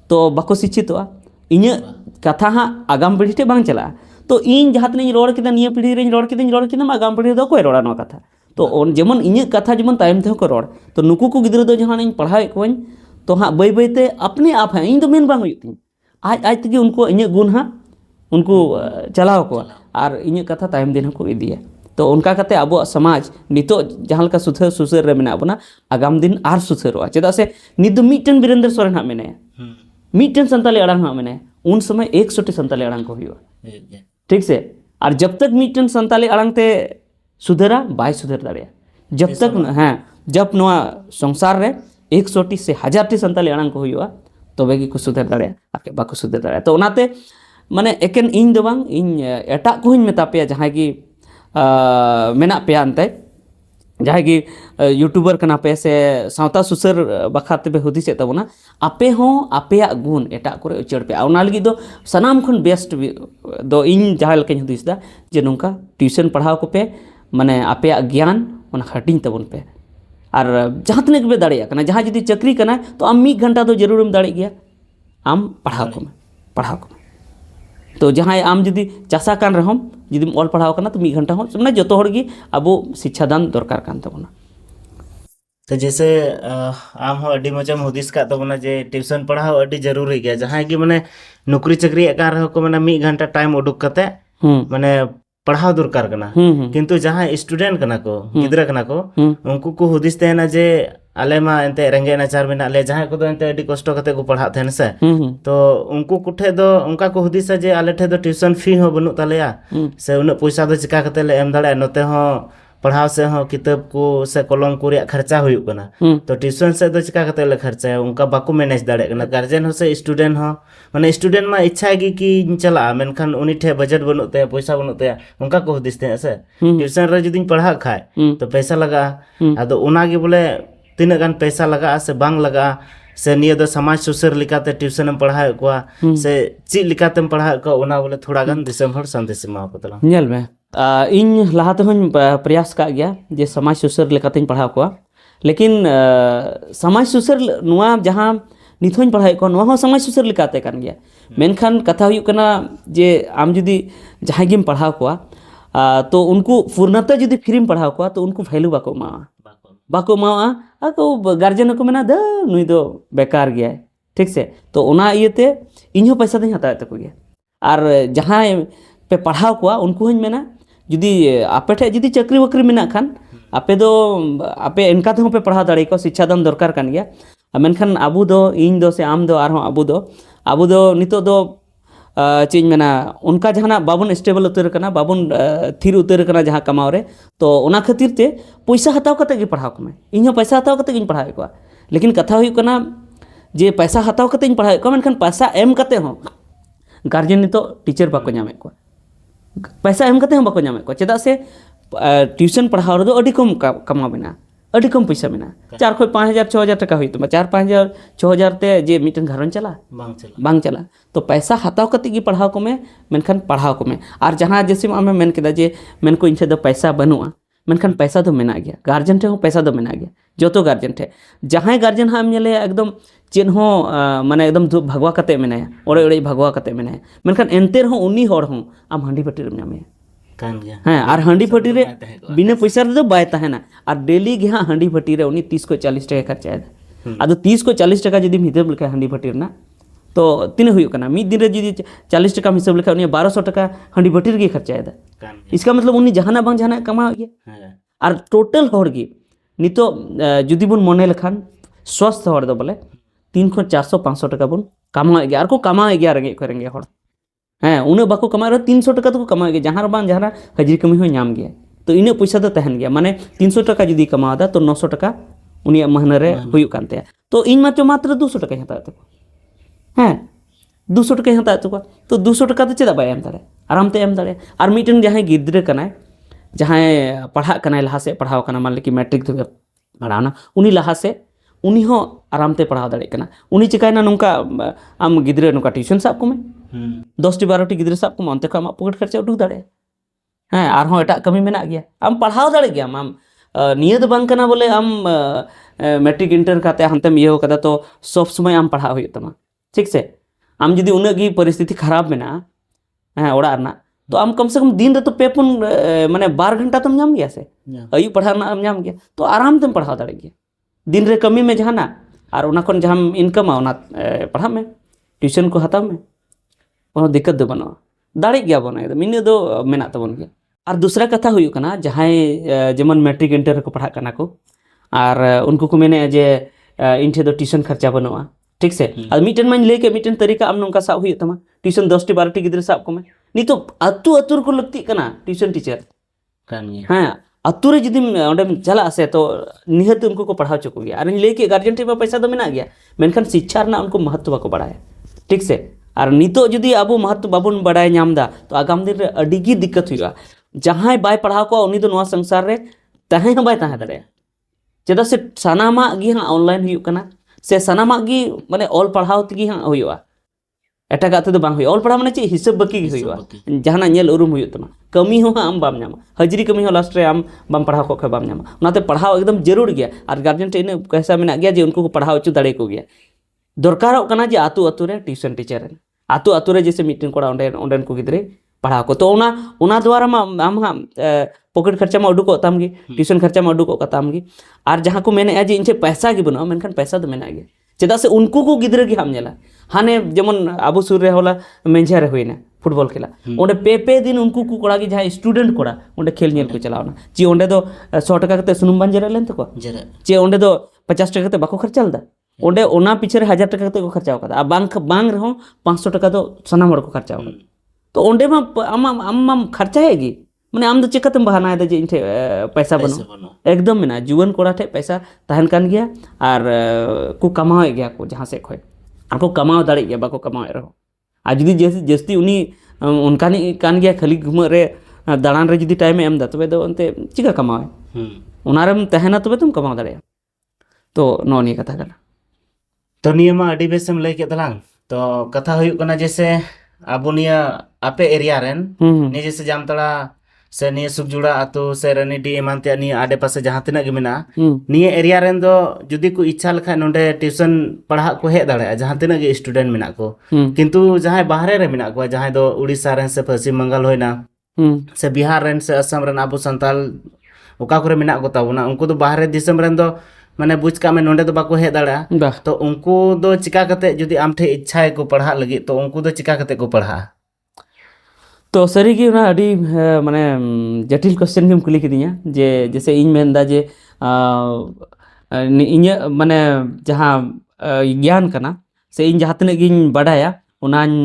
ᱛᱚ ᱵᱟᱠᱚ ᱥᱤᱪᱪᱷᱤᱛᱚᱜᱼᱟ ᱤᱧᱟᱹᱜ ᱠᱟᱛᱷᱟ ᱦᱟᱸᱜ ᱟᱜᱟᱢ ᱯᱤᱲᱦᱤ ᱴᱷᱮᱱ ᱵᱟᱝ ᱪᱟᱞᱟᱜᱼᱟ ᱛᱚ ᱤᱧ ᱡᱟᱦᱟᱸ ᱛᱤᱱᱟᱹᱜ ᱤᱧ ᱨᱚᱲ ᱠᱮᱫᱟ ᱱᱤᱭᱟᱹ ᱯᱤᱲᱦᱤ ᱨᱤᱧ ᱨᱚᱲ ᱠᱮᱫᱟᱹᱧ ᱨᱚᱲ ᱠᱮᱫᱟᱹᱧ ᱟᱜᱟᱢ ᱯᱤᱲᱦᱤ ᱨᱮᱫᱚ ᱚᱠᱚᱭᱮ ᱨᱚᱲᱟ ᱱᱚᱣᱟ ᱠᱟᱛᱷᱟ ᱛᱚ ᱡᱮᱢᱚᱱ ᱤᱧᱟᱹᱜ ᱠᱟᱛᱷᱟ ᱡᱮᱢᱚᱱ ᱛᱟᱭᱚᱢ ᱛᱮᱦᱚᱸ ᱠᱚ ᱨᱚᱲ ᱛᱚ ᱱᱩᱠᱩ ᱠᱚ ᱜᱤᱫᱽᱨᱟᱹ ᱫᱚ ᱡᱚᱠᱷᱚᱱᱤᱧ ᱯᱟᱲᱦᱟᱣᱮᱫ ᱠᱚᱣᱟᱧ ᱛᱚ ᱦᱟᱸᱜ ᱵᱟᱹᱭ ᱵᱟᱹᱭ ᱛᱮ ᱟᱯᱱᱮ ᱟᱯ ᱦᱟᱸᱜ ᱤᱧ ᱫᱚ ᱢᱮᱱ ᱵᱟᱝ ᱦᱩᱭᱩᱜ ᱛᱤᱧᱟᱹ ᱟᱡ ᱟᱡ ᱛᱮᱜᱮ ᱩᱱᱠᱩᱣᱟᱜ ᱤᱧᱟᱹᱜ ᱜᱩᱱ ᱦᱟᱸᱜ ᱩᱱᱠᱩ ᱪᱟᱞᱟᱣ ᱟᱠᱚᱣᱟ ᱟᱨ ᱤᱧᱟᱹᱜ ᱠᱟᱛᱷᱟ ᱛᱟᱭᱚᱢ ᱫᱤᱱ ᱦᱚᱸᱠᱚ ᱤᱫᱤᱭᱟ ᱛᱚ ᱚᱱᱠᱟ ᱠᱟᱛᱮᱫ ᱟᱵᱚᱣᱟᱜ ᱥᱚᱢᱟᱡᱽ ᱱᱤᱛᱚᱜ ᱡᱟᱦᱟᱸ ᱞᱮᱠᱟ ᱥᱩᱥᱟᱹᱨ ᱥᱩᱥᱟᱹᱨ ᱨᱮ ᱢᱮᱱᱟᱜ ᱵᱚᱱᱟ ᱟᱜᱟᱢ ᱫᱤᱱ ᱟᱨ ᱥᱩᱥᱟᱹᱨᱚᱜᱼᱟ ᱪᱮᱫᱟᱜ ᱥᱮ ᱱᱤᱛ ᱫᱚ ᱢᱤᱫᱴᱮᱱ ᱵᱤᱨᱮᱱᱫᱨᱚ ᱥᱚᱨᱮᱱ ᱦᱟᱸᱜ ᱢᱮᱱᱟᱭᱟ ᱢᱤᱫᱴᱮᱱ ᱥᱟᱱᱛᱟᱲᱤ ᱟᱲᱟᱝ ᱦᱟᱸᱜ ᱢᱮᱱᱟᱭᱟ ᱩᱱ ᱥᱚᱢᱚᱭ ᱮᱠᱥᱚᱴᱤ ᱥᱟᱱᱛᱟᱲᱤ ᱟᱲᱟᱝ ᱠᱚ ᱦᱩᱭᱩᱜᱼᱟ ᱴᱷᱤᱠ ᱥᱮ ᱟᱨ ᱡᱚᱵ ᱛᱚᱠ ᱢᱤᱫᱴᱮᱱ ᱥᱟᱱᱛᱟᱞᱤ ᱟᱲᱟᱝ ᱛᱮ ᱥᱩᱫᱷᱟᱹᱨᱟ ᱵᱟᱭ ᱥᱩᱫᱷᱟᱹᱨ ᱫᱟᱲᱮᱭᱟᱜᱼᱟ ᱡᱚᱵ ᱛᱚᱠ ᱦᱮᱸ ᱡᱚᱵ ᱱᱚᱣᱟ ᱥᱚᱝᱥᱟᱨ ᱨᱮ ᱮᱠᱥᱚᱴᱤ ᱥᱮ ᱦᱟᱡᱟᱨᱴᱤ ᱥᱟᱱᱛᱟᱞᱤ ᱟᱲᱟᱝ ᱠᱚ ᱦᱩᱭᱩᱜᱼᱟ ᱛᱚᱵᱮ ᱜᱮᱠᱚ ᱥᱩᱫᱷᱟᱹᱨ ᱫᱟᱲᱮᱭᱟᱜᱼᱟ ᱟᱨ ᱵᱟᱠᱚ ᱥᱩᱫᱷᱟᱹᱨ ᱫᱟᱲᱮᱭᱟᱜᱼᱟ ᱛᱚ ᱚᱱᱟᱛᱮ ᱢᱟᱱᱮ ᱮᱠᱮᱱ ᱤᱧ ᱫᱚ ᱵᱟᱝ ᱤᱧ ᱮᱴᱟᱜ ᱠᱚᱦᱚᱸᱧ ᱢᱮᱛᱟ ᱯᱮᱭᱟ ᱡᱟᱦᱟᱸᱭ ᱜᱮ ᱢᱮᱱᱟᱜ ᱯᱮᱭᱟ ᱮᱱᱛᱮᱫ ᱡᱟᱦᱟᱸᱭ ᱜᱮ ᱤᱭᱩᱴᱩᱵᱟᱨ ᱠᱟᱱᱟ ᱯᱮ ᱥᱮ ᱥᱟᱶᱛᱟ ᱥᱩᱥᱟᱹᱨ ᱵᱟᱠᱷᱨᱟ ᱛᱮᱯᱮ ᱦᱩᱫᱤᱥᱮᱫ ᱛᱟᱵᱚᱱᱟ ᱟᱯᱮ ᱦᱚᱸ ᱟᱯᱮᱭᱟᱜ ᱜᱩᱱ ᱮᱴᱟᱜ ᱠᱚᱨᱮ ᱩᱪᱟᱹᱲ ᱯᱮ ᱟᱨ ᱚᱱᱟ ᱞᱟᱹᱜᱤᱫ ᱫᱚ ᱥᱟᱱᱟᱢ ᱠᱷᱚᱱ ᱵᱮᱥᱴ ᱫᱚ ᱤᱧ ᱡᱟᱦᱟᱸ ᱞᱮᱠᱟᱧ ᱦᱩᱫᱤᱥᱫᱟ ᱡᱮ ᱱᱚᱝᱠᱟ ᱴᱤᱭᱩᱥᱚᱱ ᱯᱟᱲᱦᱟᱣ ᱠᱚᱯᱮ ᱢᱟᱱᱮ ᱟᱯᱮᱭᱟᱜ ᱜᱮᱭᱟᱱ ᱚᱱᱟ ᱦᱟᱹᱴᱤᱧ ᱛᱟᱵᱚᱱ ᱯᱮ ᱟᱨ ᱡᱟᱦᱟᱸ ᱛᱤᱱᱟᱹᱜ ᱜᱮᱯᱮ ᱫᱟᱲᱮᱭᱟᱜ ᱠᱟᱱᱟ ᱡᱟᱦᱟᱸᱭ ᱡᱩᱫᱤ ᱪᱟᱹᱠᱨᱤ ᱠᱟᱱᱟᱭ ᱛᱚ ᱟᱢ ᱢᱤᱫ ᱜᱷᱚᱱᱴᱟ ᱫᱚ ᱡᱟᱹᱨᱩᱲᱮᱢ ᱫᱟᱲᱮᱜ ᱜᱮᱭᱟ ᱟᱢ ᱯᱟᱲᱦᱟᱣ ᱠᱚᱢᱮ ᱯᱟᱲᱦᱟᱣ ᱠᱚᱢᱮ ᱛᱚ ᱡᱟᱦᱟᱸᱭ ᱟᱢ ᱡᱩᱫᱤ ᱪᱟᱥᱟ ᱠᱟᱱ ᱨᱮᱦᱚᱸᱢ ᱡᱩᱫᱤᱢ ᱚᱞ ᱯᱟᱲᱦᱟᱣ ᱠᱟᱱᱟ ᱛᱚ ᱢᱤᱫ ᱜᱷᱚᱱᱴᱟ ᱦᱚᱸ ᱢᱟᱱᱮ ᱡᱚᱛᱚ ᱦᱚᱲ ᱜᱮ ᱟᱵᱚ ᱥᱤᱪᱪᱷᱟ ᱫᱟᱱ ᱫᱚᱨᱠᱟᱨ ᱠᱟᱱ ᱛᱟᱵᱚᱱᱟ ᱛᱚ ᱡᱮᱭᱥᱮ ᱟᱢ ᱦᱚᱸ ᱟᱹᱰᱤ ᱢᱚᱡᱮᱢ ᱦᱩᱫᱤᱥ ᱠᱟᱜ ᱛᱟᱵᱚᱱᱟ ᱡᱮ ᱴᱤᱭᱩᱥᱚᱱ ᱯᱟᱲᱦᱟᱣ ᱟᱹᱰᱤ ᱡᱟᱹᱨᱩᱨᱤ ᱜᱮᱭᱟ ᱡᱟᱦᱟᱸᱭ ᱜᱮ ᱢᱟᱱᱮ ᱱᱚᱠᱨᱤ ᱪᱟᱹᱠᱨᱤᱭᱮᱫ ᱠᱟᱱ ᱨᱮᱦᱚᱸ ᱠᱚ ᱢᱟᱱᱮ ᱢᱤᱫ ᱜᱷᱚᱱᱴᱟ ᱴᱟᱭᱤᱢ ᱩᱰᱩᱠ ᱠᱟᱛᱮ ᱢᱟᱱᱮ ᱯᱟᱲᱦᱟᱣ ᱫᱚᱨᱠᱟᱨ ᱠᱟᱱᱟ ᱠᱤᱱᱛᱩ ᱡᱟᱦᱟᱸᱭ ᱥᱴᱩᱰᱮᱱᱴ ᱠᱟᱱᱟ ᱠᱚ ᱜᱤᱫᱽᱨᱟᱹ ᱠᱟᱱᱟ ᱠᱚ ᱩᱱᱠᱩ ᱠᱚ ᱦᱩᱫᱤᱥ ᱛᱟᱦᱮᱱᱟ ᱡᱮ ᱟᱞᱮ ᱢᱟ ᱮᱱᱛᱮ ᱨᱮᱸᱜᱮᱡ ᱱᱟᱪᱟᱨ ᱢᱮᱱᱟᱜ ᱞᱮ ᱡᱟᱦᱟᱸᱭ ᱠᱚᱫᱚ ᱮᱱᱛᱮ ᱟᱹᱰᱤ ᱠᱚᱥᱴᱚ ᱠᱟᱛᱮ ᱠᱚ ᱯᱟᱲᱦᱟᱜ ᱛᱟᱦᱮᱱ ᱥᱮ ᱛᱚ ᱩᱱᱠᱩ ᱠᱚᱴᱷᱮ ᱫᱚ ᱚᱱᱠᱟ ᱠᱚ ᱦᱩᱫᱤᱥᱟ ᱡᱮ ᱟᱞᱮ ᱴᱷᱮ ᱫᱚ ᱴᱤᱭᱩᱥᱚᱱ ᱯᱷᱤ ᱦᱚᱸ ᱵᱟᱹᱱᱩᱜ ᱛᱟᱞᱮᱭᱟ ᱥᱮ ᱩᱱᱟᱹᱜ ᱯᱚᱭᱥᱟ ᱫᱚ ᱪᱤᱠᱟ ᱠᱟᱛᱮ ᱞᱮ ᱮᱢ ᱫᱟᱲᱮᱭᱟᱜᱼᱟ ᱱᱚᱛᱮ ᱦᱚᱸ ᱯᱟᱲᱦᱟᱣ ᱥᱮᱫ ᱦᱚᱸ ᱠᱤᱛᱟᱹᱵ ᱠᱚ ᱥᱮ ᱠᱚᱞᱚᱢ ᱠᱚ ᱨᱮᱭᱟᱜ ᱠᱷᱚᱨᱪᱟ ᱦᱩᱭᱩᱜ ᱠᱟᱱᱟ ᱛᱚ ᱴᱤᱭᱩᱥᱚᱱ ᱥᱮᱫ ᱫᱚ ᱪᱤᱠᱟ ᱠᱟᱛᱮ ᱞᱮ ᱠᱷᱚᱨᱪᱟᱭᱟ ᱚᱱᱠᱟ ᱵᱟᱠᱚ ᱢᱮᱱᱮᱡ ᱫᱟᱲᱮᱭᱟᱜ ᱠᱟᱱᱟ ᱜᱟᱨᱡᱮᱱ ᱦᱚᱸ ᱥᱮ ᱥᱴᱩᱰᱮᱱᱴ ᱦᱚᱸ ᱢᱟᱱᱮ ᱥᱴᱩᱰᱮᱱᱴ ᱢᱟ ᱤᱪᱪᱷᱟ ᱜᱮ ᱠᱤᱧ ᱪᱟᱞᱟᱜᱼᱟ ᱢᱮᱱᱠᱷᱟᱱ ᱩᱱᱤ ᱴᱷᱮᱡ ᱵᱟᱡᱮᱴ ᱵᱟᱹᱱᱩᱜ ᱛᱟᱭᱟ ᱯᱚᱭᱥᱟ ᱵᱟᱹᱱᱩᱜ ᱛᱟᱭᱟ ᱚᱱᱠᱟ ᱠᱚ ᱦᱩᱫᱤᱥ ᱛᱟᱦᱮᱸᱜᱼᱟ ᱥᱮ ᱴᱤᱭᱩᱥᱚᱱ ᱨᱮ ᱡᱩᱫᱤᱧ ᱯᱟᱲᱦᱟᱜ ᱠᱷᱟᱡ ᱛᱚ ᱯᱚᱭᱥᱟ ᱞᱟᱜᱟᱜᱼᱟ ᱟᱫᱚ ᱚᱱᱟ ᱜᱮ ᱵᱚᱞᱮ ᱛᱤᱱᱟᱹᱜ ᱜᱟᱱ ᱯᱚᱭᱥᱟ ᱞᱟᱜᱟᱜᱼᱟ ᱥᱮ ᱵᱟᱝ ᱞᱟᱜᱟᱜᱼᱟ ᱥᱮ ᱱᱤᱭᱟᱹ ᱫᱚ ᱥᱚᱢᱟᱡᱽ ᱥᱩᱥᱟᱹᱨ ᱞᱮᱠᱟᱛᱮ ᱴᱤᱭᱩᱥᱚᱱ ᱮᱢ ᱯᱟᱲᱦᱟᱣᱮᱫ ᱠᱚᱣᱟ ᱥᱮ ᱪᱮᱫ ᱞᱮᱠᱟᱛᱮᱢ ᱯᱟᱲᱦᱟᱣᱮᱫ ᱠᱚᱣᱟ ᱚᱱᱟ ᱵᱚᱞᱮ ᱛᱷᱚᱲᱟ ᱜᱟᱱ ᱫᱤᱥᱚᱢ ᱦᱚᱲ ᱥᱟᱸᱫᱮᱥ ᱮᱢᱟ ᱠᱚ ᱛᱟᱞᱟᱝ ᱧᱮᱞ ᱢᱮ ᱤᱧ ᱞᱟᱦᱟ ᱛᱮᱦᱚᱸᱧ ᱯᱨᱮᱭᱟᱥ ᱠᱟᱜ ᱜᱮᱭᱟ ᱡᱮ ᱥᱚᱢᱟᱡᱽ ᱥᱩᱥᱟᱹᱨ ᱞᱮᱠᱟᱛᱮᱧ ᱯᱟᱲᱦᱟᱣ ᱠᱚᱣᱟ ᱞᱮᱠᱤᱱ ᱥᱚᱢᱟᱡᱽ ᱥᱩᱥᱟᱹᱨ ᱱᱚᱣᱟ ᱡᱟᱦᱟᱸ ᱱᱤᱛ ᱦᱚᱸᱧ ᱯᱟᱲᱦᱟᱣᱮᱫ ᱠᱚᱣᱟ ᱱᱚᱣᱟ ᱦᱚᱸ ᱥᱚᱢᱟᱡᱽ ᱥᱩᱥᱟᱹᱨ ᱞᱮᱠᱟᱛᱮ ᱠᱟᱱ ᱜᱮᱭᱟ ᱢᱮᱱᱠᱷᱟᱱ ᱠᱟᱛᱷᱟ ᱦᱩᱭᱩᱜ ᱠᱟᱱᱟ ᱡᱮ ᱟᱢ ᱡᱩᱫᱤ ᱡᱟᱦᱟᱸᱭ ᱜᱮᱢ ᱯᱟᱲᱦᱟᱣ ᱠᱚᱣᱟ ᱛᱚ ᱩᱱᱠᱩ ᱯᱩᱨᱱᱚᱛᱚ ᱡᱩᱫᱤ ᱯᱷᱨᱤᱢ ᱯᱟᱲᱦᱟᱣ ᱠᱚᱣᱟ ᱛᱚ ᱩᱱᱠᱩ ᱵᱷᱮᱞᱩ ᱵᱟᱠᱚ ᱮᱢᱟᱣᱟ ᱵᱟᱠᱚ ᱮᱢᱟᱣᱟᱜᱼᱟ ᱟᱫᱚ ᱜᱟᱨᱡᱮᱱ ᱦᱚᱸᱠᱚ ᱢᱮᱱᱟ ᱫᱷᱟᱹᱨ ᱱᱩᱭ ᱫᱚ ᱵᱮᱠᱟᱨ ᱜᱮᱭᱟᱭ ᱴᱷᱤᱠ ᱥᱮ ᱛᱚ ᱚᱱᱟ ᱤᱭᱟᱹᱛᱮ ᱤᱧ ᱦᱚᱸ ᱯᱚᱭᱥᱟ ᱫᱚᱧ ᱦᱟᱛᱟᱣᱮᱫ ᱛᱟᱠᱚ ᱜᱮᱭᱟ ᱟᱨ ᱡᱟᱦᱟᱸᱭ ᱯᱮ ᱯᱟᱲᱦᱟᱣ ᱠᱚᱣᱟ ᱩᱱᱠᱩ ᱦᱚᱸᱧ ᱢᱮᱱᱟ ᱡᱩᱫᱤ ᱟᱯᱮ ᱴᱷᱮᱡ ᱡᱩᱫᱤ ᱪᱟᱹᱠᱨᱤ ᱵᱟᱹᱠᱨᱤ ᱢᱮᱱᱟᱜ ᱠᱷᱟᱱ ᱟᱯᱮ ᱫᱚ ᱟᱯᱮ ᱮᱱᱠᱟ ᱛᱮᱦᱚᱸ ᱯᱮ ᱯᱟᱲᱦᱟᱣ ᱫᱟᱲᱮ ᱠᱚᱣᱟ ᱥᱤᱪᱪᱷᱟ ᱫᱟᱱ ᱫᱚᱨᱠᱟᱨ ᱠᱟᱱ ᱜᱮᱭᱟ ᱢᱮᱱᱠᱷᱟᱱ ᱟᱵᱚ ᱫᱚ ᱤᱧ ᱫᱚ ᱥᱮ ᱟᱢ ᱫᱚ ᱟᱨᱦᱚᱸ ᱟᱵᱚ ᱫᱚ ᱟᱵᱚ ᱫᱚ ᱱᱤᱛᱚᱜ ᱫᱚ ᱪᱮᱫ ᱤᱧ ᱢᱮᱱᱟ ᱚᱱᱠᱟ ᱡᱟᱦᱟᱱᱟᱜ ᱵᱟᱵᱚᱱ ᱥᱴᱮᱵᱮᱞ ᱩᱛᱟᱹᱨ ᱠᱟᱱᱟ ᱵᱟᱵᱚᱱ ᱛᱷᱤᱨ ᱩᱛᱟᱹᱨ ᱠᱟᱱᱟ ᱡᱟᱦᱟᱸ ᱠᱟᱢᱟᱣ ᱨᱮ ᱛᱚ ᱚᱱᱟ ᱠᱷᱟᱹᱛᱤᱨ ᱛᱮ ᱯᱚᱭᱥᱟ ᱦᱟᱛᱟᱣ ᱠᱟᱛᱮ ᱜᱮ ᱯᱟᱲᱦᱟᱣ ᱠᱚᱢᱮ ᱤᱧ ᱦᱚᱸ ᱯᱚᱭᱥᱟ ᱦᱟᱛᱟᱣ ᱠᱟᱛᱮ ᱜᱮᱧ ᱯᱟᱲᱦᱟᱣᱮᱫ ᱠᱚᱣᱟ ᱞᱮᱠᱤᱱ ᱠᱟᱛᱷᱟ ᱦᱩᱭᱩᱜ ᱠᱟᱱᱟ ᱡᱮ ᱯᱚᱭᱥᱟ ᱦᱟᱛᱟᱣ ᱠᱟᱛᱮᱧ ᱯᱟᱲᱦᱟᱣᱮᱫ ᱠᱚᱣᱟ ᱢᱮᱱᱠᱷᱟᱱ ᱯᱚᱭᱥᱟ ᱮᱢ ᱠᱟᱛᱮ ᱦᱚᱸ ᱜᱟᱨᱡᱮᱱ ᱱᱤᱛᱚᱜ ᱴᱤᱪᱟᱨ ᱵᱟᱠᱚ ᱧᱟᱢᱮᱫ ᱠᱚᱣᱟ ᱯᱚᱭᱥᱟ ᱮᱢ ᱠᱟᱛᱮᱫ ᱦᱚᱸ ᱵᱟᱠᱚ ᱧᱟᱢᱮᱫ ᱠᱚᱣᱟ ᱪᱮᱫᱟᱜ ᱥᱮ ᱴᱤᱭᱩᱥᱚᱱ ᱯᱟᱲᱦᱟᱣ ᱨᱮᱫᱚ ᱟᱹᱰᱤ ᱠᱚᱢ ᱠᱟᱢᱟᱣ ᱢᱮᱱᱟᱜᱼᱟ ᱟᱹᱰᱤ ᱠᱚᱢ ᱯᱚᱭᱥᱟ ᱢᱮᱱᱟᱜᱼᱟ ᱪᱟᱨ ᱠᱷᱚᱱ ᱯᱟᱸᱪ ᱦᱟᱡᱟᱨ ᱪᱷᱚ ᱦᱟᱡᱟᱨ ᱴᱟᱠᱟ ᱦᱩᱭᱩᱜ ᱛᱟᱢᱟ ᱪᱟᱨ ᱯᱟᱸᱪ ᱦᱟᱡᱟᱨ ᱪᱷᱚ ᱦᱟᱡᱟᱨ ᱛᱮ ᱡᱮ ᱢᱤᱫᱴᱟᱱ ᱜᱷᱟᱨᱚᱸᱡᱽ ᱪᱟᱞᱟᱜᱼᱟ ᱵᱟᱝ ᱪᱟᱞᱟᱜᱼᱟ ᱛᱳ ᱯᱚᱭᱥᱟ ᱦᱟᱛᱟᱣ ᱠᱟᱛᱮᱫ ᱜᱮ ᱯᱟᱲᱦᱟᱣ ᱠᱚᱢᱮ ᱢᱮᱱᱠᱷᱟᱱ ᱯᱟᱲᱦᱟᱣ ᱠᱚᱢᱮ ᱟᱨ ᱡᱟᱦᱟᱸ ᱡᱮᱭᱥᱮ ᱟᱢᱮᱢ ᱢᱮᱱ ᱠᱮᱫᱟ ᱡᱮ ᱢᱮᱱᱟᱠᱚ ᱤᱧ ᱴᱷᱮᱱ ᱫᱚ ᱯᱚᱭᱥᱟ ᱵᱟᱹᱱᱩᱜᱼᱟ ᱢᱮᱱᱠᱷᱟᱱ ᱯᱚᱭᱥᱟ ᱫᱚ ᱢᱮᱱᱟᱜ ᱜᱮᱭᱟ ᱜᱟᱨᱡᱮᱱ ᱴᱷᱮᱱ ᱦᱚᱸ ᱯᱚᱭᱥᱟ ᱫᱚ ᱢᱮᱱᱟᱜ ᱜᱮᱭᱟ ᱡᱚᱛᱚ ᱜᱟᱨᱡᱮᱱ ᱴᱷᱮᱱ ᱡᱟᱦᱟᱸᱭ ᱜᱟᱨᱡᱮᱱ ᱦᱟᱸᱜ ᱮᱢ ᱧᱮᱞᱮᱭᱟ ᱮᱠᱫᱚᱢ ᱪᱮᱫ ᱦᱚᱸ ᱢᱟᱱᱮ ᱮᱠᱫᱚᱢ ᱵᱷᱟᱜᱽᱣᱟ ᱠᱟᱛᱮᱫ ᱢᱮᱱᱟᱭᱟ ᱚᱲᱮᱡ ᱚᱲᱮᱡ ᱵᱷᱟᱜᱽᱣᱟ ᱠᱟᱛᱮᱫ ᱢᱮᱱᱟᱭᱟ ᱢᱮᱱᱠᱷᱟᱱ ᱮᱱᱛᱮ ᱨᱮᱦᱚᱸ ᱩᱱᱤ ᱦᱚᱲ ᱦᱚᱸ ᱟᱢ ᱦᱟᱺᱰᱤ ᱵᱷᱟᱹᱴᱤ ᱨᱮᱢ ᱧᱟᱢᱮᱭᱟ ᱠᱟᱱ ᱜᱮᱭᱟ ᱦᱮᱸ ᱟᱨ ᱦᱟᱺᱰᱤ ᱵᱷᱟᱹᱴᱤ ᱨᱮ ᱵᱤᱱᱟᱹ ᱯᱚᱭᱥᱟ ᱨᱮᱫᱚ ᱵᱟᱭ ᱛᱟᱦᱮᱱᱟ ᱟᱨ ᱰᱮᱞᱤ ᱜᱮ ᱦᱟᱸᱜ ᱦᱟᱺᱰᱤ ᱵᱷᱟᱹᱴᱤ ᱨᱮ ᱩᱱᱤ ᱛᱤᱥ ᱠᱷᱚᱱ ᱪᱟᱞᱤᱥ ᱴᱟᱠᱟᱭ ᱠᱷᱚᱨᱪᱟᱭᱮᱫᱟ ᱟᱫᱚ ᱛᱤᱥ ᱠᱷᱚᱱ ᱪᱟᱞᱤᱥ ᱴᱟᱠᱟ ᱡᱩᱫᱤᱢ ᱦᱤᱥᱟᱹᱵ ᱞᱮᱠᱷᱟᱱ ᱦᱟᱺᱰᱤ ᱵᱷᱟᱹᱴᱤ ᱨᱮᱱᱟᱜ ᱛᱚ ᱛᱤᱱᱟᱹᱜ ᱦᱩᱭᱩᱜ ᱠᱟᱱᱟ ᱢᱤᱫ ᱫᱤᱱ ᱨᱮ ᱡᱩᱫᱤ ᱪᱟᱞᱤᱥ ᱴᱟᱠᱟᱢ ᱦᱤᱥᱟᱹᱵ ᱞᱮᱠᱷᱟᱱ ᱩᱱᱤ ᱵᱟᱨᱚᱥᱚ ᱴᱟᱠᱟ ᱦᱟᱺᱰᱤ ᱵᱟᱹᱴᱤ ᱨᱮᱜᱮ ᱠᱷᱚᱨᱪᱟᱭᱮᱫᱟ ᱤᱥᱠᱟ ᱢᱚᱛᱞᱚᱵ ᱩᱱᱤ ᱡᱟᱦᱟᱱᱟᱜ ᱵᱟᱝ ᱡᱟᱦᱟᱱᱟᱜ ᱠᱟᱢᱟᱣᱮᱫ ᱜᱮᱭᱟ ᱟᱨ ᱴᱳᱴᱟᱞ ᱦᱚᱲ ᱜᱮ ᱱᱤᱛᱚᱜ ᱡᱩᱫᱤ ᱵᱚᱱ ᱢᱚᱱᱮ ᱞᱮᱠᱷᱟᱱ ᱥᱣᱟᱥᱛᱷ ᱦᱚᱲ ᱫᱚ ᱵᱚᱞᱮ ᱛᱤᱱ ᱠᱷᱚᱱ ᱪᱟᱨᱥᱚ ᱯᱟᱸᱪᱥᱚ ᱴᱟᱠᱟ ᱵᱚᱱ ᱠᱟᱢᱟᱣᱮᱫ ᱜᱮᱭᱟ ᱟᱨ ᱠᱚ ᱠᱟᱢᱟᱣᱮᱫ ᱜᱮᱭᱟ ᱨᱮᱸᱜᱮᱡ ᱠᱚ ᱨᱮᱸᱜᱮᱡ ᱦᱚᱲ ᱦᱮᱸ ᱩᱱᱟᱹᱜ ᱵᱟᱠᱚ ᱠᱟᱢᱟᱣ ᱨᱮᱦᱚᱸ ᱛᱤᱱᱥᱚ ᱴᱟᱠᱟ ᱫᱚᱠᱚ ᱠᱟᱢᱟᱣ ᱜᱮᱭᱟ ᱡᱟᱦᱟᱸ ᱨᱮ ᱵᱟᱝ ᱡᱟᱦᱟᱸ ᱨᱮ ᱦᱟᱹᱡᱨᱤ ᱠᱟᱹᱢᱤ ᱦᱚᱸ ᱧᱟᱢ ᱜᱮᱭᱟ ᱛᱚ ᱤᱱᱟᱹᱜ ᱯᱚᱭᱥᱟ ᱫᱚ ᱛᱟᱦᱮᱱ ᱜᱮᱭᱟ ᱢᱟᱱᱮ ᱛᱤᱱᱥᱚ ᱴᱟᱠᱟ ᱡᱩᱫᱤ ᱠᱟᱢᱟᱣ ᱮᱫᱟ ᱛᱚ ᱱᱚᱥᱚ ᱴᱟᱠᱟ ᱩᱱᱤᱭᱟᱜ ᱢᱟᱹᱦᱱᱟᱹ ᱨᱮ ᱦᱩᱭᱩᱜ ᱠᱟᱱ ᱛᱟᱭᱟ ᱛᱚ ᱤᱧ ᱢᱟᱛᱚ ᱢᱟᱛᱨᱚ ᱫᱩᱥᱚ ᱴᱟᱠᱟᱧ ᱦᱟᱛᱟᱣᱮᱫ ᱛᱟᱠᱚᱣᱟ ᱦᱮᱸ ᱫᱩᱥᱚ ᱴᱟᱠᱟᱧ ᱦᱟᱛᱟᱣᱮᱫ ᱛᱟᱠᱚᱣᱟ ᱛᱚ ᱫᱩᱥᱚ ᱴᱟᱠᱟ ᱫᱚ ᱪᱮᱫᱟᱜ ᱵᱟᱭ ᱮᱢ ᱫᱟᱲᱮᱭᱟᱜᱼᱟ ᱟᱨᱟᱢ ᱛᱮ ᱮᱢ ᱫᱟᱲᱮᱭᱟᱜᱼᱟ ᱟᱨ ᱢᱤᱫᱴᱮᱱ ᱡᱟᱦᱟᱸᱭ ᱜᱤᱫᱽᱨᱟᱹ ᱠᱟᱱᱟᱭ ᱡᱟᱦᱟᱸᱭ ᱯᱟᱲᱦᱟᱜ ᱠᱟᱱᱟᱭ ᱞᱟᱦᱟ ᱥᱮᱫ ᱯᱟᱲᱦᱟᱣ ᱠᱟᱱᱟᱭ ᱢᱟᱱᱞᱤ ᱠᱤ ᱢᱮᱴᱨᱤᱠ ᱫᱷᱟᱹᱵᱤᱡ ᱯᱟᱲᱦᱟᱣᱱᱟ ᱩᱱᱤ ᱞᱟᱦᱟ ᱥᱮᱫ ᱩᱱᱤ ᱦᱚᱸ ᱟᱨᱟᱢ ᱛᱮ ᱯᱟᱲᱦᱟᱣ ᱫᱟᱲᱮᱭᱟᱜ ᱠᱟᱱᱟ ᱩᱱᱤ ᱪᱤᱠᱟᱹᱭᱮᱱᱟ ᱱᱚᱝᱠᱟ ᱟᱢ ᱜᱤᱫᱽᱨᱟᱹ ᱱᱚᱝᱠᱟ ᱴᱤᱭᱩᱥᱚᱱ ᱥᱟᱵ ᱠᱚᱢᱮ ᱫᱚᱥᱴᱤ ᱵᱟᱨᱚᱴᱤ ᱜᱤᱫᱽᱨᱟᱹ ᱥᱟᱵ ᱠᱚᱢᱮ ᱚᱱᱛᱮ ᱠᱷᱚᱱ ᱟᱢᱟᱜ ᱯᱚᱠᱮᱴ ᱠᱷᱚᱨᱪᱟ ᱩᱰᱩᱠ ᱫᱟᱲᱮᱭᱟᱜᱼᱟ ᱦᱮᱸ ᱟᱨᱦᱚᱸ ᱮᱴᱟᱜ ᱠᱟᱹᱢᱤ ᱢᱮᱱᱟᱜ ᱜᱮᱭᱟ ᱟᱢ ᱯᱟᱲᱦᱟᱣ ᱫᱟᱲᱮᱜ ᱜᱮᱭᱟᱢ ᱟᱢ ᱱᱤᱭᱟᱹ ᱫᱚ ᱵᱟᱝ ᱠᱟᱱᱟ ᱵᱚᱞᱮ ᱟᱢ ᱢᱮᱴᱨᱤᱠ ᱤᱱᱴᱟᱨ ᱠᱟᱛᱮᱫ ᱦᱟᱱᱛᱮᱢ ᱤᱭᱟᱹᱣ ᱠᱟᱫᱟ ᱛᱚ ᱥᱚᱵᱽ ᱥᱚᱢᱚᱭ ᱟᱢ ᱯᱟᱲᱦᱟᱜ ᱦᱩᱭᱩᱜ ᱛᱟᱢᱟ ᱴᱷᱤᱠ ᱥᱮ ᱟᱢ ᱡᱩᱫᱤ ᱩᱱᱟᱹᱜ ᱜᱮ ᱯᱚᱨᱤᱥᱛᱷᱤᱛᱤ ᱠᱷᱟᱨᱟᱯ ᱢᱮᱱᱟᱜᱼᱟ ᱦᱮᱸ ᱚᱲᱟᱜ ᱨᱮᱱᱟᱜ ᱛᱚ ᱟᱢ ᱠᱚᱢ ᱥᱮ ᱠᱚᱢ ᱫᱤᱱ ᱨᱮᱛᱚ ᱯᱮ ᱯᱩᱱ ᱢᱟᱱᱮ ᱵᱟᱨ ᱜᱷᱚᱱᱴᱟ ᱛᱚᱢ ᱧᱟᱢ ᱜᱮᱭᱟ ᱥᱮ ᱟᱹᱭᱩᱵ ᱯᱟᱲᱦᱟᱜ ᱨᱮᱱᱟᱜ ᱮᱢ ᱧᱟᱢ ᱜᱮᱭᱟ ᱛᱚ ᱟᱨᱟᱢ ᱛᱮᱢ ᱯᱟᱲᱦᱟᱣ ᱫᱟᱲᱮᱜ ᱜᱮᱭᱟ ᱫᱤᱱ ᱨᱮ ᱠᱟᱹᱢᱤ ᱢᱮ ᱡᱟᱦᱟᱱᱟᱜ ᱟᱨ ᱚᱱᱟ ᱠᱷᱚᱱ ᱡᱟᱦᱟᱸᱢ ᱤᱱᱠᱟᱢᱟ ᱚᱱᱟ ᱯᱟᱲᱦᱟᱜ ᱢᱮ ᱴᱤᱭᱩᱥᱚᱱ ᱠᱚ ᱦᱟᱛᱟᱣ ᱢᱮ ᱠᱳᱱᱳ ᱫᱤᱠᱠᱚᱛ ᱫᱚ ᱵᱟᱹᱱᱩᱜᱼᱟ ᱫᱟᱲᱮᱜ ᱜᱮᱭᱟ ᱵᱚᱱ ᱮᱠᱫᱚᱢ ᱤᱱᱟᱹ ᱫᱚ ᱢᱮᱱᱟᱜ ᱛᱟᱵᱚᱱ ᱜᱮᱭᱟ ᱟᱨ ᱫᱩᱥᱨᱟ ᱠᱟᱛᱷᱟ ᱦᱩᱭᱩᱜ ᱠᱟᱱᱟ ᱡᱟᱦᱟᱸᱭ ᱡᱮᱢᱚᱱ ᱢᱮᱴᱨᱤᱠ ᱤᱱᱴᱟᱨ ᱨᱮᱠᱚ ᱯᱟᱲᱦᱟᱜ ᱠᱟᱱᱟ ᱠᱚ ᱟᱨ ᱩᱱᱠᱩ ᱠᱚ ᱢᱮᱱᱮᱫᱼᱟ ᱡᱮ ᱤᱧ ᱴᱷᱮᱱ ᱫᱚ ᱴᱤᱭᱩᱥᱚᱱ ᱠᱷᱚᱨᱪᱟ ᱵᱟᱹᱱᱩᱜᱼᱟ ᱴᱷᱤᱠ ᱥᱮ ᱟᱨ ᱢᱤᱫᱴᱮᱱ ᱢᱟᱧ ᱞᱟᱹᱭ ᱠᱮᱫ ᱢᱤᱫᱴᱮᱱ ᱛᱟᱹᱨᱤᱠᱟ ᱟᱢ ᱱᱚᱝᱠᱟ ᱥᱟᱵ ᱦᱩᱭᱩᱜ ᱛᱟᱢᱟ ᱴᱤᱭᱩᱥᱚᱱ ᱫᱚᱥᱴᱤ ᱵᱟᱨᱚᱴᱤ ᱜᱤᱫᱽᱨᱟᱹ ᱥᱟᱵ ᱠᱚᱢᱮ ᱱᱤᱛᱚᱜ ᱟᱹᱛᱩ ᱟᱹᱛᱩ ᱨᱮᱠᱚ ᱞᱟᱹᱠᱛᱤᱜ ᱠᱟᱱᱟ ᱴᱤᱭᱩᱥᱚᱱ ᱴᱤᱪᱟᱨ ᱠᱟᱱ ᱜᱮᱭᱟ ᱦᱮᱸ ᱟᱛᱳ ᱨᱮ ᱡᱩᱫᱤᱢ ᱚᱸᱰᱮᱢ ᱪᱟᱞᱟᱜ ᱟᱥᱮ ᱛᱚ ᱱᱤᱦᱟᱹᱛ ᱩᱱᱠᱩ ᱠᱚ ᱯᱟᱲᱦᱟᱣ ᱦᱚᱪᱚ ᱠᱚᱜᱮᱭᱟ ᱟᱨᱤᱧ ᱞᱟᱹᱭ ᱠᱮᱫ ᱜᱟᱨᱡᱮᱱ ᱴᱷᱮᱱ ᱢᱟ ᱯᱚᱭᱥᱟ ᱫᱚ ᱢᱮᱱᱟᱜ ᱜᱮᱭᱟ ᱢᱮᱱᱠᱷᱟᱱ ᱥᱤᱪᱪᱷᱟ ᱨᱮᱱᱟᱜ ᱩᱱᱠᱩ ᱢᱚᱦᱚᱛᱛᱚ ᱵᱟᱠᱚ ᱵᱟᱲᱟᱭᱟ ᱴᱷᱤᱠ ᱥᱮ ᱟᱨ ᱱᱤᱛᱚᱜ ᱡᱩᱫᱤ ᱟᱵᱚ ᱢᱚᱦᱚᱛᱛᱚ ᱵᱟᱵᱚᱱ ᱵᱟᱲᱟᱭ ᱧᱟᱢ ᱮᱫᱟ ᱛᱚ ᱟᱜᱟᱢ ᱫᱤᱱ ᱨᱮ ᱟᱹᱰᱤ ᱜᱮ ᱫᱤᱠᱠᱟᱛ ᱦᱩᱭᱩᱜᱼᱟ ᱡᱟᱦᱟᱸᱭ ᱵᱟᱭ ᱯᱟᱲᱦᱟᱣ ᱠᱚᱜᱼᱟ ᱩᱱᱤ ᱫᱚ ᱱᱚᱣᱟ ᱥᱚᱝᱥᱟᱨ ᱨᱮ ᱛᱟᱦᱮᱸ ᱦᱚᱸ ᱵᱟᱭ ᱛᱟᱦᱮᱸ ᱫᱟᱲᱮᱭᱟᱜᱼᱟ ᱪᱮᱫᱟᱜ ᱥᱮ ᱥᱟᱱᱟᱢᱟᱜ ᱜᱮ ᱦᱟᱸᱜ ᱚᱱᱞᱟᱭᱤᱱ ᱦᱩᱭᱩᱜ ᱠᱟᱱᱟ ᱥᱮ ᱥᱟᱱᱟᱢᱟᱜ ᱜᱮ ᱢᱟᱱᱮ ᱚᱞ ᱯᱟᱲᱦᱟᱣ ᱛᱮᱜᱮ ᱦᱟᱸᱜ ᱦᱩᱭᱩᱜᱼᱟ ᱮᱴᱟᱜᱟᱜ ᱛᱮᱫᱚ ᱵᱟᱝ ᱦᱩᱭᱩᱜᱼᱟ ᱚᱞ ᱯᱟᱲᱦᱟᱣ ᱢᱟᱱᱮ ᱪᱮᱫ ᱦᱤᱥᱟᱹᱵ ᱵᱟᱹᱠᱤ ᱜᱮ ᱦᱩᱭᱩᱜᱼᱟ ᱡᱟᱦᱟᱱᱟᱜ ᱧᱮᱞ ᱩᱨᱩᱢ ᱦᱩᱭᱩᱜ ᱛᱟᱢᱟ ᱠᱟᱹᱢᱤ ᱦᱚᱸ ᱟᱢ ᱵᱟᱢ ᱧᱟᱢᱟ ᱦᱟᱹᱡᱨᱤ ᱠᱟᱹᱢᱤ ᱦᱚᱸ ᱞᱟᱥᱴ ᱨᱮ ᱟᱢ ᱵᱟᱢ ᱯᱟᱲᱦᱟᱣ ᱠᱚᱜ ᱠᱷᱟᱱ ᱵᱟᱢ ᱧᱟᱢᱟ ᱚᱱᱟᱛᱮ ᱯᱟᱲᱦᱟᱣ ᱮᱠᱫᱚᱢ ᱡᱟᱹᱨᱩᱲ ᱜᱮᱭᱟ ᱟᱨ ᱜᱟᱨᱡᱮᱱ ᱴᱷᱮᱱ ᱤᱱᱟᱹ ᱯᱚᱭᱥᱟ ᱢᱮᱱᱟᱜ ᱜᱮᱭᱟ ᱡᱮ ᱩᱱᱠᱩ ᱠᱚ ᱯᱟᱲᱦᱟᱣ ᱦᱚᱪᱚ ᱫᱟᱲᱮ ᱠᱚ ᱜᱮᱭᱟ ᱫᱚᱨᱠᱟᱨᱚᱜ ᱠᱟᱱᱟ ᱡᱮ ᱟᱛᱳ ᱟᱛᱳ ᱨᱮ ᱴᱤᱭᱩᱥᱚᱱ ᱴᱤᱪᱟᱨ ᱨᱮᱱ ᱟᱛᱳ ᱟᱛᱳ ᱨᱮ ᱡᱮᱥᱮ ᱢᱤᱫᱴᱮᱱ ᱠᱚᱲᱟ ᱚᱸᱰᱮ ᱚᱸᱰᱮᱱ ᱠᱚ ᱜᱤᱫᱽᱨᱟᱹ ᱯᱟᱲᱦᱟᱣ ᱠᱚ ᱛᱚ ᱚᱱᱟ ᱚᱱᱟ ᱫᱣᱟᱨᱟ ᱢᱟ ᱟᱢ ᱦᱟᱸᱜ ᱯᱚᱠᱮᱴ ᱠᱷᱚᱨᱪᱟ ᱢᱟ ᱩᱰᱩᱠᱚᱜ ᱛᱟᱢ ᱜᱮ ᱴᱤᱭᱩᱥᱚᱱ ᱠᱷᱚᱨᱪᱟ ᱢᱟ ᱩᱰᱩᱠᱚᱜ ᱠᱟᱱ ᱛᱟᱢ ᱜᱮ ᱟᱨ ᱡᱟᱦᱟᱸ ᱠᱚ ᱢᱮᱱᱮᱜᱼᱟ ᱡᱮ ᱤᱧ ᱴᱷᱮᱱ ᱯᱚᱭᱥᱟ ᱜᱮ ᱵᱟᱹᱱᱩᱜᱼᱟ ᱢᱮᱱᱠᱷᱟᱱ ᱯᱚᱭᱥᱟ ᱫᱚ ᱢᱮᱱᱟᱜ ᱜᱮᱭᱟ ᱪᱮᱫᱟᱜ ᱥᱮ ᱩᱱᱠᱩ ᱠᱚ ᱜᱤᱫᱽᱨᱟᱹ ᱜᱮ ᱦᱟᱸᱜ ᱧᱮᱞᱟ ᱦᱟᱱᱮ ᱡᱮᱢᱚᱱ ᱟᱵᱚ ᱥᱩᱨ ᱨᱮ ᱦᱚᱞᱟ ᱢᱮᱸᱡᱷᱟ ᱨᱮ ᱦᱩᱭᱱᱟ ᱯᱷᱩᱴᱵᱚᱞ ᱠᱷᱮᱞᱟ ᱚᱸᱰᱮ ᱯᱮ ᱯᱮ ᱫᱤᱱ ᱩᱱᱠᱩ ᱠᱚ ᱠᱚᱲᱟ ᱜᱮ ᱡᱟᱦᱟᱸᱭ ᱥᱴᱩᱰᱮᱱᱴ ᱠᱚᱲᱟ ᱚᱸᱰᱮ ᱠᱷᱮᱞ ᱧᱮᱞ ᱠᱚ ᱪᱟᱞᱟᱣᱱᱟ ᱪᱮ ᱚᱸᱰᱮ ᱫᱚ ᱥᱚ ᱴᱟᱠᱟ ᱠᱟᱛᱮ ᱥᱩᱱᱩᱢ ᱵᱟᱝ ᱡᱮᱨᱮᱫ ᱞᱮᱱ ᱛᱟᱠᱚᱣᱟ ᱡᱮᱨᱮᱫ ᱪᱮ ᱚᱸᱰᱮ ᱫᱚ ᱯᱚᱪᱟᱥ ᱴᱟᱠᱟ ᱠᱟᱛᱮ ᱵᱟᱠᱚ ᱠᱷᱚᱨᱪᱟ ᱞᱮᱫᱟ ᱚᱸᱰᱮ ᱚᱱᱟ ᱯᱤᱪᱷᱮ ᱨᱮ ᱦᱟᱡᱟᱨ ᱴᱟᱠᱟ ᱠᱟᱛᱮ ᱠᱚ ᱠᱷᱚᱨᱪᱟ ᱟᱠᱟᱫᱟ ᱟᱨ ᱵᱟᱝ ᱵᱟᱝ ᱨᱮᱦᱚᱸ ᱯᱟᱸᱪᱥᱚ ᱴᱟᱠᱟ ᱫᱚ ᱥᱟᱱᱟᱢ ᱦᱚᱲ ᱠᱚ ᱠᱷᱚᱨᱪᱟ ᱟᱠᱟᱫᱟ ᱛᱚ ᱚᱸᱰᱮ ᱢᱟ ᱟᱢᱟᱜ ᱟᱢ ᱢᱟᱢ ᱠᱷᱚᱨᱪᱟᱭᱮᱫ ᱜᱮ ᱢᱟᱱᱮ ᱟᱢ ᱫᱚ ᱪᱤᱠᱟᱹᱛᱮᱢ ᱵᱟᱦᱟᱱᱟᱭᱮᱫᱟ ᱡᱮ ᱤᱧ ᱴᱷᱮᱡ ᱯᱚᱭᱥᱟ ᱵᱟᱹᱱᱩᱜᱼᱟ ᱮᱠᱫᱚᱢ ᱢᱮᱱᱟᱜᱼᱟ ᱡᱩᱣᱟᱹᱱ ᱠᱚᱲᱟ ᱴᱷᱮᱡ ᱯᱚᱭᱥᱟ ᱛᱟᱦᱮᱱ ᱠᱟᱱ ᱜᱮᱭᱟ ᱟᱨ ᱠᱚ ᱠᱟᱢᱟᱣᱮᱫ ᱜᱮᱭᱟ ᱠᱚ ᱡᱟᱦᱟᱸ ᱥᱮᱡ ᱠᱷᱚᱡ ᱟᱨ ᱠᱚ ᱠᱟᱢᱟᱣ ᱫᱟᱲᱮᱭᱟᱜ ᱜᱮᱭᱟ ᱵᱟᱠᱚ ᱠᱟᱢᱟᱣᱮᱫ ᱨᱮᱦᱚᱸ ᱟᱨ ᱡᱩᱫᱤ ᱡᱟᱹᱥᱛᱤ ᱩᱱᱤ ᱚᱱᱠᱟᱱᱤᱡ ᱠᱟᱱ ᱜᱮᱭᱟᱭ ᱠᱷᱟᱹᱞᱤ ᱜᱷᱩᱢᱟᱹᱜ ᱨᱮ ᱫᱟᱬᱟᱱ ᱨᱮ ᱡᱩᱫᱤ ᱴᱟᱭᱤᱢᱮ ᱮᱢᱫᱟ ᱛᱚᱵᱮ ᱫᱚ ᱮᱱᱛᱮᱫ ᱪᱤᱠᱟᱹ ᱠᱟᱢᱟᱣᱟᱭ ᱚᱱᱟ ᱨᱮᱢ ᱛᱟᱦᱮᱱᱟ ᱛᱚᱵᱮ ᱛᱚᱢ ᱠᱟᱢᱟᱣ ᱫᱟᱲᱮᱭᱟᱜᱼᱟ ᱛᱚ ᱱᱚᱜᱼᱚ ᱱᱤᱭᱟᱹ ᱠᱟᱛᱷᱟ ᱠᱟᱱᱟ ᱛᱚ ᱱᱤᱭᱟᱹ ᱢᱟ ᱟᱹᱰᱤ ᱵᱮᱥᱮᱢ ᱞᱟᱹᱭ ᱠᱮᱫ ᱛᱟᱞᱟᱝ ᱛᱚ ᱠᱟᱛᱷᱟ ᱦᱩᱭᱩᱜ ᱠᱟᱱᱟ ᱡᱮᱥᱮ ᱟᱵᱚ ᱱᱤᱭᱟᱹ ᱟᱯᱮ ᱮᱨᱤᱭᱟ ᱨᱮᱱ ᱦᱩᱸ ᱦᱩᱸ ᱱᱤᱭᱟᱹ ᱡᱮᱥᱮ ᱡᱟᱢᱛᱟᱲᱟ ᱥᱮ ᱱᱤᱭᱟᱹ ᱥᱩᱠᱡᱩᱲᱟ ᱟᱛᱳ ᱥᱮ ᱨᱟᱱᱤᱰᱤ ᱮᱢᱟᱱ ᱛᱮᱭᱟᱜ ᱱᱤᱭᱟᱹ ᱟᱰᱮ ᱯᱟᱥᱮ ᱡᱟᱦᱟᱸ ᱛᱤᱱᱟᱹᱜ ᱜᱮ ᱢᱮᱱᱟᱜᱼᱟ ᱦᱩᱸ ᱱᱤᱭᱟᱹ ᱮᱨᱤᱭᱟ ᱨᱮᱱ ᱫᱚ ᱡᱩᱫᱤ ᱠᱚ ᱤᱪᱪᱷᱟ ᱞᱮᱠᱷᱟᱡ ᱱᱚᱰᱮ ᱴᱤᱭᱩᱥᱚᱱ ᱯᱟᱲᱦᱟᱜ ᱠᱚ ᱦᱮᱡ ᱫᱟᱲᱮᱭᱟᱜᱼᱟ ᱡᱟᱦᱟᱸ ᱛᱤᱱᱟᱹᱜ ᱜᱮ ᱥᱴᱩᱰᱮᱱᱴ ᱢᱮᱱᱟᱜ ᱠᱚ ᱦᱩᱸ ᱠᱤᱱᱛᱩ ᱡᱟᱦᱟᱸᱭ ᱵᱟᱦᱨᱮ ᱨᱮ ᱢᱮᱱᱟᱜ ᱠᱚᱣᱟ ᱡᱟᱦᱟᱸᱭ ᱫᱚ ᱩᱲᱤᱥᱥᱟ ᱨᱮᱱ ᱥᱮ ᱯᱚᱥᱪᱤᱢ ᱵᱟᱝᱜᱟᱞ ᱦᱩᱭᱱᱟ ᱥᱮ ᱵᱤᱦᱟᱨ ᱨᱮᱱ ᱥᱮ ᱟᱥᱟᱢ ᱨᱮᱱ ᱟᱵᱚ ᱥᱟᱱᱛᱟᱞ ᱚᱠᱟ ᱠᱚᱨᱮ ᱢᱮᱱᱟᱜ ᱠᱚᱛᱟ ᱵᱚᱱᱟ ᱩᱱᱠᱩ ᱫᱚ ᱵᱟᱦᱨᱮ ᱫᱤᱥᱚᱢ ᱨᱮᱱ ᱫᱚ ᱢᱟᱱᱮ ᱵᱩᱡᱽ ᱠᱟᱜ ᱢᱮ ᱱᱚᱸᱰᱮ ᱫᱚ ᱵᱟᱠᱚ ᱦᱮᱡ ᱫᱟᱲᱮᱭᱟᱜᱼᱟ ᱛᱚ ᱩᱱᱠᱩ ᱫᱚ ᱪᱤᱠᱟ ᱠᱟᱛᱮ ᱡᱩᱫᱤ ᱟᱢ ᱴᱷᱮᱡ ᱤᱪᱪᱷᱟᱭ ᱠᱚ ᱯᱟᱲᱦᱟᱜ ᱞᱟᱹᱜᱤᱫ ᱛᱚ ᱩᱱᱠᱩ ᱫᱚ ᱪᱤᱠᱟ ᱠᱟᱛᱮ ᱠᱚ ᱯᱟᱲᱦᱟᱜᱼᱟ ᱛᱚ ᱥᱟᱹᱨᱤᱜᱮ ᱚᱱᱟ ᱟᱹᱰᱤ ᱢᱟᱱᱮ ᱡᱚᱴᱤᱞ ᱠᱚᱥᱪᱮᱱ ᱜᱮᱢ ᱠᱩᱞᱤ ᱠᱤᱫᱤᱧᱟ ᱡᱮ ᱡᱮᱥᱮ ᱤᱧ ᱢᱮᱱᱫᱟ ᱡᱮ ᱤᱧᱟᱹᱜ ᱢᱟᱱᱮ ᱡᱟᱦᱟᱸ ᱜᱮᱭᱟᱱ ᱠᱟᱱᱟ ᱥᱮ ᱤᱧ ᱡᱟᱦᱟᱸ ᱛᱤᱱᱟᱹᱜ ᱜᱤᱧ ᱵᱟᱰᱟᱭᱟ ᱚᱱᱟᱧ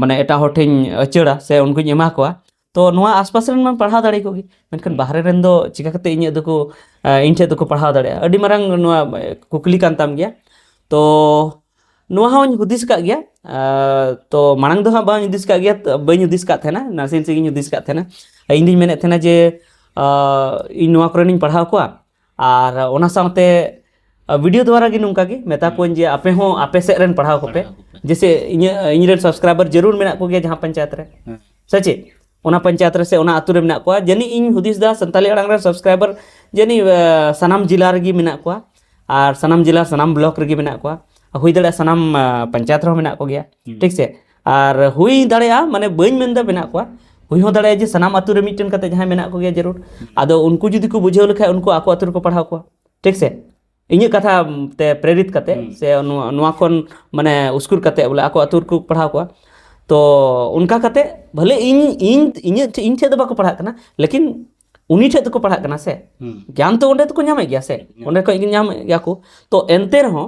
ᱢᱟᱱᱮ ᱮᱴᱟᱜ ᱦᱚᱲ ᱴᱷᱮᱱ ᱟᱹᱪᱟᱹᱲᱟ ᱥᱮ ᱩᱱᱠᱩᱧ ᱮᱢᱟ ᱠᱚᱣᱟ ᱛᱚ ᱱᱚᱣᱟ ᱟᱥᱯᱟᱥ ᱨᱮᱱ ᱢᱟ ᱯᱟᱲᱦᱟᱣ ᱫᱟᱲᱮ ᱠᱚᱜᱮ ᱢᱮᱱᱠᱷᱟᱱ ᱵᱟᱦᱨᱮ ᱨᱮᱱ ᱫᱚ ᱪᱤᱠᱟᱹ ᱠᱟᱛᱮ ᱤᱧᱟᱹᱜ ᱫᱚᱠᱚ ᱤᱧ ᱴᱷᱮᱱ ᱫᱚᱠᱚ ᱯᱟᱲᱦᱟᱣ ᱫᱟᱲᱮᱭᱟᱜᱼᱟ ᱟᱹᱰᱤ ᱢᱟᱨᱟᱝ ᱱᱚᱣᱟ ᱠᱩᱠᱞᱤ ᱠᱟᱱ ᱛᱟᱢ ᱜᱮᱭᱟ ᱛᱚ ᱱᱚᱣᱟ ᱦᱚᱸᱧ ᱦᱩᱫᱤᱥ ᱟᱠᱟᱫ ᱜᱮᱭᱟ ᱛᱚ ᱢᱟᱲᱟᱝ ᱫᱚ ᱦᱟᱸᱜ ᱵᱟᱹᱧ ᱦᱩᱫᱤᱥ ᱟᱠᱟᱫ ᱜᱮᱭᱟ ᱵᱟᱹᱧ ᱦᱩᱫᱤᱥ ᱟᱠᱟᱫ ᱛᱟᱦᱮᱱᱟ ᱱᱟᱥᱮ ᱱᱟᱥᱮ ᱜᱤᱧ ᱦᱩᱫᱤᱥ ᱟᱠᱟᱫ ᱛᱟᱦᱮᱱᱟ ᱤᱧ ᱫᱚᱧ ᱢᱮᱱᱮᱫ ᱛᱟᱦᱮᱱᱟ ᱡᱮ ᱤᱧ ᱱᱚᱣᱟ ᱠᱚᱨᱮᱱᱤᱧ ᱯᱟᱲᱦᱟᱣ ᱠᱚᱣᱟ ᱟᱨ ᱚᱱᱟ ᱥᱟᱶᱛᱮ ᱵᱷᱤᱰᱤᱭᱳ ᱫᱣᱟᱨᱟ ᱜᱮ ᱱᱚᱝᱠᱟ ᱜᱮ ᱢᱮᱛᱟ ᱠᱚᱣᱟᱹᱧ ᱡᱮ ᱟᱯᱮ ᱦᱚᱸ ᱟᱯᱮ ᱥᱮᱫ ᱨᱮᱱ ᱯᱟᱲᱦᱟᱣ ᱠᱚᱯᱮ ᱡᱮᱥᱮ ᱤᱧᱟᱹᱜ ᱤᱧᱨᱮᱱ ᱥᱟᱵᱥᱠᱨᱟᱭᱵᱟᱨ ᱡᱟᱹᱨᱩᱲ ᱢᱮᱱᱟᱜ ᱠᱚᱜᱮᱭᱟ ᱡᱟᱦᱟᱸ ᱯᱚᱧᱪᱟᱭᱮᱛ ᱨᱮ ᱥᱮ ᱪᱮᱫ ᱚᱱᱟ ᱯᱚᱧᱪᱟᱭᱮᱛ ᱨᱮ ᱥᱮ ᱚᱱᱟ ᱟᱹᱛᱩ ᱨᱮ ᱢᱮᱱᱟᱜ ᱠᱚᱣᱟ ᱡᱟᱹᱱᱤᱡ ᱤᱧ ᱦᱩᱫᱤᱥ ᱮᱫᱟ ᱥᱟᱱᱛᱟᱲᱤ ᱟᱲᱟᱝ ᱨᱮ ᱥᱟᱵᱥᱠᱨᱟᱭᱵᱟᱨ ᱡᱟᱹᱱᱤᱡ ᱥᱟᱱᱟᱢ ᱡᱮᱞᱟ ᱨᱮᱜᱮ ᱢᱮᱱᱟᱜ ᱠᱚᱣᱟ ᱟᱨ ᱥᱟᱱᱟᱢ ᱡᱮᱞᱟ ᱥᱟᱱᱟᱢ ᱵᱞᱚᱠ ᱨᱮᱜᱮ ᱢᱮᱱᱟᱜ ᱠᱚᱣᱟ ᱦᱩᱭ ᱫᱟᱲᱮᱭᱟᱜᱼᱟ ᱥᱟᱱᱟᱢ ᱯᱚᱧᱪᱟᱭᱮᱛ ᱨᱮᱦᱚᱸ ᱢᱮᱱᱟᱜ ᱠᱚᱜᱮᱭᱟ ᱴᱷᱤᱠ ᱥᱮ ᱟᱨ ᱦᱩᱭ ᱫᱟᱲᱮᱭᱟᱜᱼᱟ ᱢᱟᱱᱮ ᱵᱟᱹᱧ ᱢᱮᱱᱫᱟ ᱢᱮᱱᱟᱜ ᱠᱚᱣᱟ ᱦᱩᱭ ᱦᱚᱸ ᱫᱟᱲᱮᱭᱟᱜᱼᱟ ᱡᱮ ᱥᱟᱱᱟᱢ ᱟᱛᱳ ᱨᱮ ᱢᱤᱫᱴᱮᱱ ᱠᱟᱛᱮ ᱡᱟᱦᱟᱸᱭ ᱢᱮᱱᱟᱜ ᱠᱚᱜᱮᱭᱟ ᱡᱟᱹᱨᱩᱲ ᱟᱫᱚ ᱩᱱᱠᱩ ᱡᱩᱫᱤ ᱠᱚ ᱵᱩᱡᱷᱟᱹᱣ ᱞᱮᱠᱷᱟᱡ ᱩᱱᱠᱩ ᱟᱠᱚ ᱟᱛᱳ ᱨᱮᱠᱚ ᱯᱟᱲᱦᱟᱣ ᱠᱚᱣᱟ ᱴᱷᱤᱠ ᱥᱮ ᱤᱧᱟᱹᱜ ᱠᱟᱛᱷᱟ ᱛᱮ ᱯᱨᱮᱨᱤᱛ ᱠᱟᱛᱮ ᱥᱮ ᱱᱚᱣᱟ ᱱᱚᱣᱟ ᱠᱷᱚᱱ ᱢᱟᱱᱮ ᱩᱥᱠᱩᱨ ᱠᱟᱛᱮ ᱵᱚᱞᱮ ᱟᱠᱚ ᱟᱛᱳ ᱨᱮᱠᱚ ᱯᱟᱲᱦᱟᱣ ᱠᱚᱣᱟ ᱛᱚ ᱚᱱᱠᱟ ᱠᱟᱛᱮ ᱵᱷᱟᱞᱮ ᱤᱧ ᱤᱧ ᱤᱧᱟᱹᱜ ᱴᱷᱮᱡ ᱤᱧ ᱴᱷᱮᱡ ᱫᱚ ᱵᱟᱠᱚ ᱯᱟᱲᱦᱟᱜ ᱠᱟᱱᱟ ᱞᱮᱠᱤᱱ ᱩᱱᱤ ᱴᱷᱮᱡ ᱫᱚᱠᱚ ᱯᱟᱲᱦᱟᱜ ᱠᱟᱱᱟ ᱥᱮ ᱜᱮᱭᱟᱱ ᱛᱚ ᱚᱸᱰᱮ ᱫᱚᱠᱚ ᱧᱟᱢᱮᱫ ᱜᱮᱭᱟ ᱥᱮ ᱚᱸᱰᱮ ᱠᱷᱚᱡ ᱜᱮ ᱧᱟᱢᱮᱫ ᱜᱮᱭᱟ ᱠᱚ ᱛᱚ ᱮᱱᱛᱮ ᱨᱮᱦᱚᱸ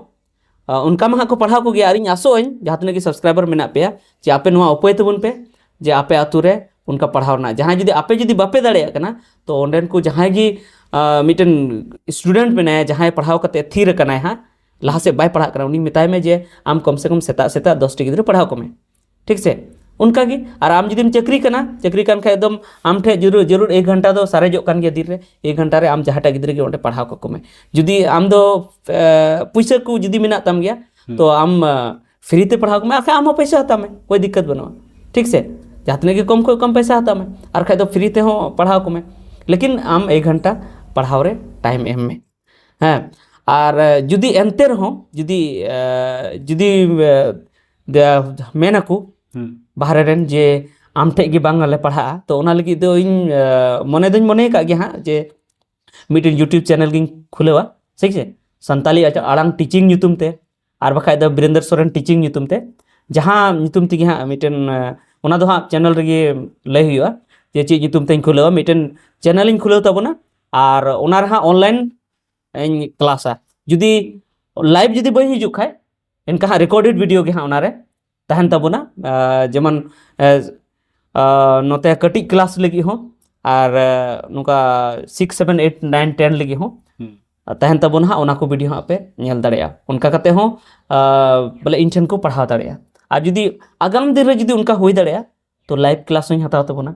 ᱚᱱᱠᱟ ᱢᱟ ᱦᱟᱸᱜ ᱠᱚ ᱯᱟᱲᱦᱟᱣ ᱠᱚᱜᱮᱭᱟ ᱟᱨ ᱤᱧ ᱟᱥᱚᱜ ᱟᱹᱧ ᱡᱟᱦᱟᱸ ᱛᱤᱱᱟᱹᱜ ᱜᱮ ᱥᱟᱵᱥᱠᱨᱟᱭᱵᱟᱨ ᱢᱮᱱᱟᱜ ᱯᱮᱭᱟ ᱡᱮ ᱟᱯᱮ ᱱᱚᱣᱟ ᱩᱯᱟᱹᱭ ᱛᱟᱵᱚᱱ ᱯᱮ ᱡᱮ ᱟᱯᱮ ᱟᱛᱳ ᱨᱮ ᱚᱱᱠᱟ ᱯᱟᱲᱦᱟᱣ ᱨᱮᱱᱟᱜ ᱡᱟᱦᱟᱸᱭ ᱡᱩᱫᱤ ᱟᱯᱮ ᱡᱩᱫᱤ ᱵᱟᱯᱮ ᱫᱟᱲᱮᱭᱟᱜ ᱠᱟᱱᱟ ᱛᱚ ᱚᱸᱰᱮᱱ ᱠᱚ ᱡᱟᱦᱟᱸᱭ ᱜᱮ ᱢᱤᱫᱴᱮᱱ ᱥᱴᱩᱰᱮᱱᱴ ᱢᱮᱱᱟᱭᱟ ᱡᱟᱦᱟᱸᱭ ᱯᱟᱲᱦᱟᱣ ᱠᱟᱛᱮ ᱛᱷᱤᱨ ᱟᱠᱟᱱᱟᱭ ᱦᱟᱸᱜ ᱞᱟᱦᱟ ᱥᱮᱫ ᱵᱟᱭ ᱯᱟᱲᱦᱟᱜ ᱠᱟᱱᱟ ᱩᱱᱤ ᱢᱮᱛᱟᱭ ᱢᱮ ᱡᱮ ᱟᱢ ᱠᱚᱢ ᱥᱮ ᱠᱚᱢ ᱥᱮᱛᱟᱜ ᱥᱮᱛᱟᱜ ᱫᱚᱥᱴᱤ ᱜᱤᱫᱽᱨᱟᱹ ᱯᱟᱲᱦᱟᱣ ᱠᱚᱢᱮ ᱴᱷᱤᱠ ᱥᱮ ᱚᱱᱠᱟ ᱜᱮ ᱟᱨ ᱟᱢ ᱡᱩᱫᱤᱢ ᱪᱟᱹᱠᱨᱤ ᱠᱟᱱᱟ ᱪᱟᱹᱠᱨᱤ ᱠᱟᱱ ᱠᱷᱟᱡ ᱫᱚᱢ ᱟᱢ ᱴᱷᱮᱡ ᱡᱟᱹᱨᱩᱲ ᱡᱟᱹᱨᱩᱲ ᱮᱠ ᱜᱷᱚᱱᱴᱟ ᱫᱚ ᱥᱟᱨᱮᱡᱚᱜ ᱠᱟᱱ ᱜᱮᱭᱟ ᱫᱤᱱ ᱨᱮ ᱮᱠ ᱜᱷᱚᱱᱴᱟ ᱨᱮ ᱟᱢ ᱡᱟᱦᱟᱸᱴᱟᱜ ᱜᱤᱫᱽᱨᱟᱹ ᱜᱮ ᱚᱸᱰᱮ ᱯᱟᱲᱦᱟᱣ ᱠᱟᱠᱚ ᱢᱮ ᱡᱩᱫᱤ ᱟᱢ ᱫᱚ ᱯᱩᱭᱥᱟᱹ ᱠᱚ ᱡᱩᱫᱤ ᱢᱮᱱᱟᱜ ᱛᱟᱢ ᱜᱮᱭᱟ ᱛᱚ ᱟᱢ ᱯᱷᱨᱤ ᱛᱮ ᱯᱟᱲᱦᱟᱣ ᱠᱚᱢᱮ ᱟᱨᱠᱷᱟᱡ ᱟᱢ ᱦᱚᱸ ᱯᱚᱭᱥᱟ ᱦᱟᱛᱟᱣ ᱢᱮ ᱠᱳᱭ ᱫᱤᱠᱠᱟᱛ ᱵᱟᱹᱱᱩᱜᱼᱟ ᱴᱷᱤᱠ ᱥᱮ ᱡᱟᱦᱟᱸ ᱛᱤᱱᱟᱹᱜ ᱜᱮ ᱠᱚᱢ ᱠᱷᱚᱡ ᱠᱚᱢ ᱯᱚᱭᱥᱟ ᱦᱟᱛᱟᱣ ᱢᱮ ᱟᱨᱠᱷᱟᱡ ᱫᱚ ᱯᱷᱨᱤ ᱛᱮᱦᱚᱸ ᱯᱟᱲᱦᱟᱣ ᱠᱚᱢᱮ ᱞᱮᱠᱤᱱ ᱟᱢ ᱮᱠ ᱜᱷᱚᱱᱴᱟ ᱯᱟᱲᱦᱟᱣ ᱨᱮ ᱴᱟᱭᱤᱢ ᱮᱢ ᱢᱮ ᱦᱮᱸ ᱟᱨ ᱡᱩᱫᱤ ᱮᱱᱛᱮ ᱨᱮᱦᱚᱸ ᱡᱩᱫᱤ ᱡᱩᱫᱤ ᱢᱮᱱᱟᱠᱚ ᱵᱟᱦᱨᱮ ᱨᱮᱱ ᱡᱮ ᱟᱢ ᱴᱷᱮᱡ ᱜᱮ ᱵᱟᱝᱞᱮ ᱯᱟᱲᱦᱟᱜᱼᱟ ᱛᱚ ᱚᱱᱟ ᱞᱟᱹᱜᱤᱫ ᱫᱚ ᱤᱧ ᱢᱚᱱᱮ ᱫᱚᱧ ᱢᱚᱱᱮ ᱟᱠᱟᱫ ᱜᱮᱭᱟ ᱦᱟᱸᱜ ᱡᱮ ᱢᱤᱫᱴᱮᱱ ᱤᱭᱩᱴᱩᱵᱽ ᱪᱮᱱᱮᱞ ᱜᱤᱧ ᱠᱷᱩᱞᱟᱹᱣᱟ ᱴᱷᱤᱠ ᱟᱪᱷᱮ ᱥᱟᱱᱛᱟᱞᱤ ᱟᱲᱟᱝ ᱴᱤᱪᱤᱝ ᱧᱩᱛᱩᱢ ᱛᱮ ᱟᱨ ᱵᱟᱠᱷᱟᱡ ᱫᱚ ᱵᱤᱨᱮᱱᱫᱨ ᱥᱚᱨᱮᱱ ᱴᱤᱪᱤᱝ ᱧᱩᱛᱩᱢ ᱛᱮ ᱡᱟᱦᱟᱸ ᱧᱩᱛᱩᱢ ᱛᱮᱜᱮ ᱦᱟᱸᱜ ᱢᱤᱫᱴᱮᱱ ᱚᱱᱟ ᱫᱚ ᱦᱟᱸᱜ ᱪᱮᱱᱮᱞ ᱨᱮᱜᱮ ᱞᱟᱹᱭ ᱦᱩᱭᱩᱜᱼᱟ ᱡᱮ ᱪᱮᱫ ᱧᱩᱛᱩᱢ ᱛᱮᱧ ᱠᱷᱩᱞᱟᱹᱣᱟ ᱢᱤᱫᱴᱮᱱ ᱪᱮᱱᱮᱞ ᱤᱧ ᱠᱷᱩᱞᱟᱹᱣ ᱛᱟᱵᱚᱱᱟ ᱟᱨ ᱚᱱᱟ ᱨᱮ ᱦᱟᱸᱜ ᱚᱱᱞᱟᱭᱤᱱ ᱤᱧ ᱠᱞᱟᱥᱟ ᱡᱩᱫᱤ ᱞᱟᱭᱤᱵᱷ ᱡᱩᱫᱤ ᱵᱟᱹᱧ ᱦᱤᱡᱩᱜ ᱠᱷᱟᱡ ᱮᱱᱠᱷᱟᱱ ᱦᱟᱸᱜ ᱨᱮᱠᱳᱰᱮᱰ ᱵᱷᱤᱰᱤᱭᱳ ᱜᱮ ᱦᱟᱸᱜ ᱚᱱᱟᱨᱮ ᱛᱟᱦᱮᱱ ᱛᱟᱵᱚᱱᱟ ᱡᱮᱢᱚᱱ ᱱᱚᱛᱮ ᱠᱟᱹᱴᱤᱡ ᱠᱞᱟᱥ ᱞᱟᱹᱜᱤᱫ ᱦᱚᱸ ᱟᱨ ᱱᱚᱝᱠᱟ six seven eight nine ten ᱞᱟᱹᱜᱤᱫ ᱦᱚᱸ ᱛᱟᱦᱮᱱ ᱛᱟᱵᱚᱱᱟ ᱦᱟᱸᱜ ᱚᱱᱟ ᱠᱚ ᱵᱷᱤᱰᱤᱭᱳ ᱦᱟᱸᱜ ᱯᱮ ᱧᱮᱞ ᱫᱟᱲᱮᱭᱟᱜᱼᱟ ᱚᱱᱠᱟ ᱠᱟᱛᱮ ᱦᱚᱸ ᱵᱚᱞᱮ ᱤᱧ ᱴᱷᱮᱱ ᱠᱚ ᱯᱟᱲᱦᱟᱣ ᱫᱟᱲᱮᱭᱟᱜᱼᱟ ᱟᱨ ᱡᱩᱫᱤ ᱟᱜᱟᱢ ᱫᱤᱱ ᱨᱮ ᱡᱩᱫᱤ ᱚᱱᱠᱟ ᱦᱩᱭ ᱫᱟᱲᱮᱭᱟᱜᱼᱟ ᱛᱚ ᱞᱟᱭᱤᱵᱷ ᱠᱞᱟᱥ ᱦᱚᱸᱧ ᱦᱟᱛᱟᱣ ᱛᱟᱵᱚᱱᱟ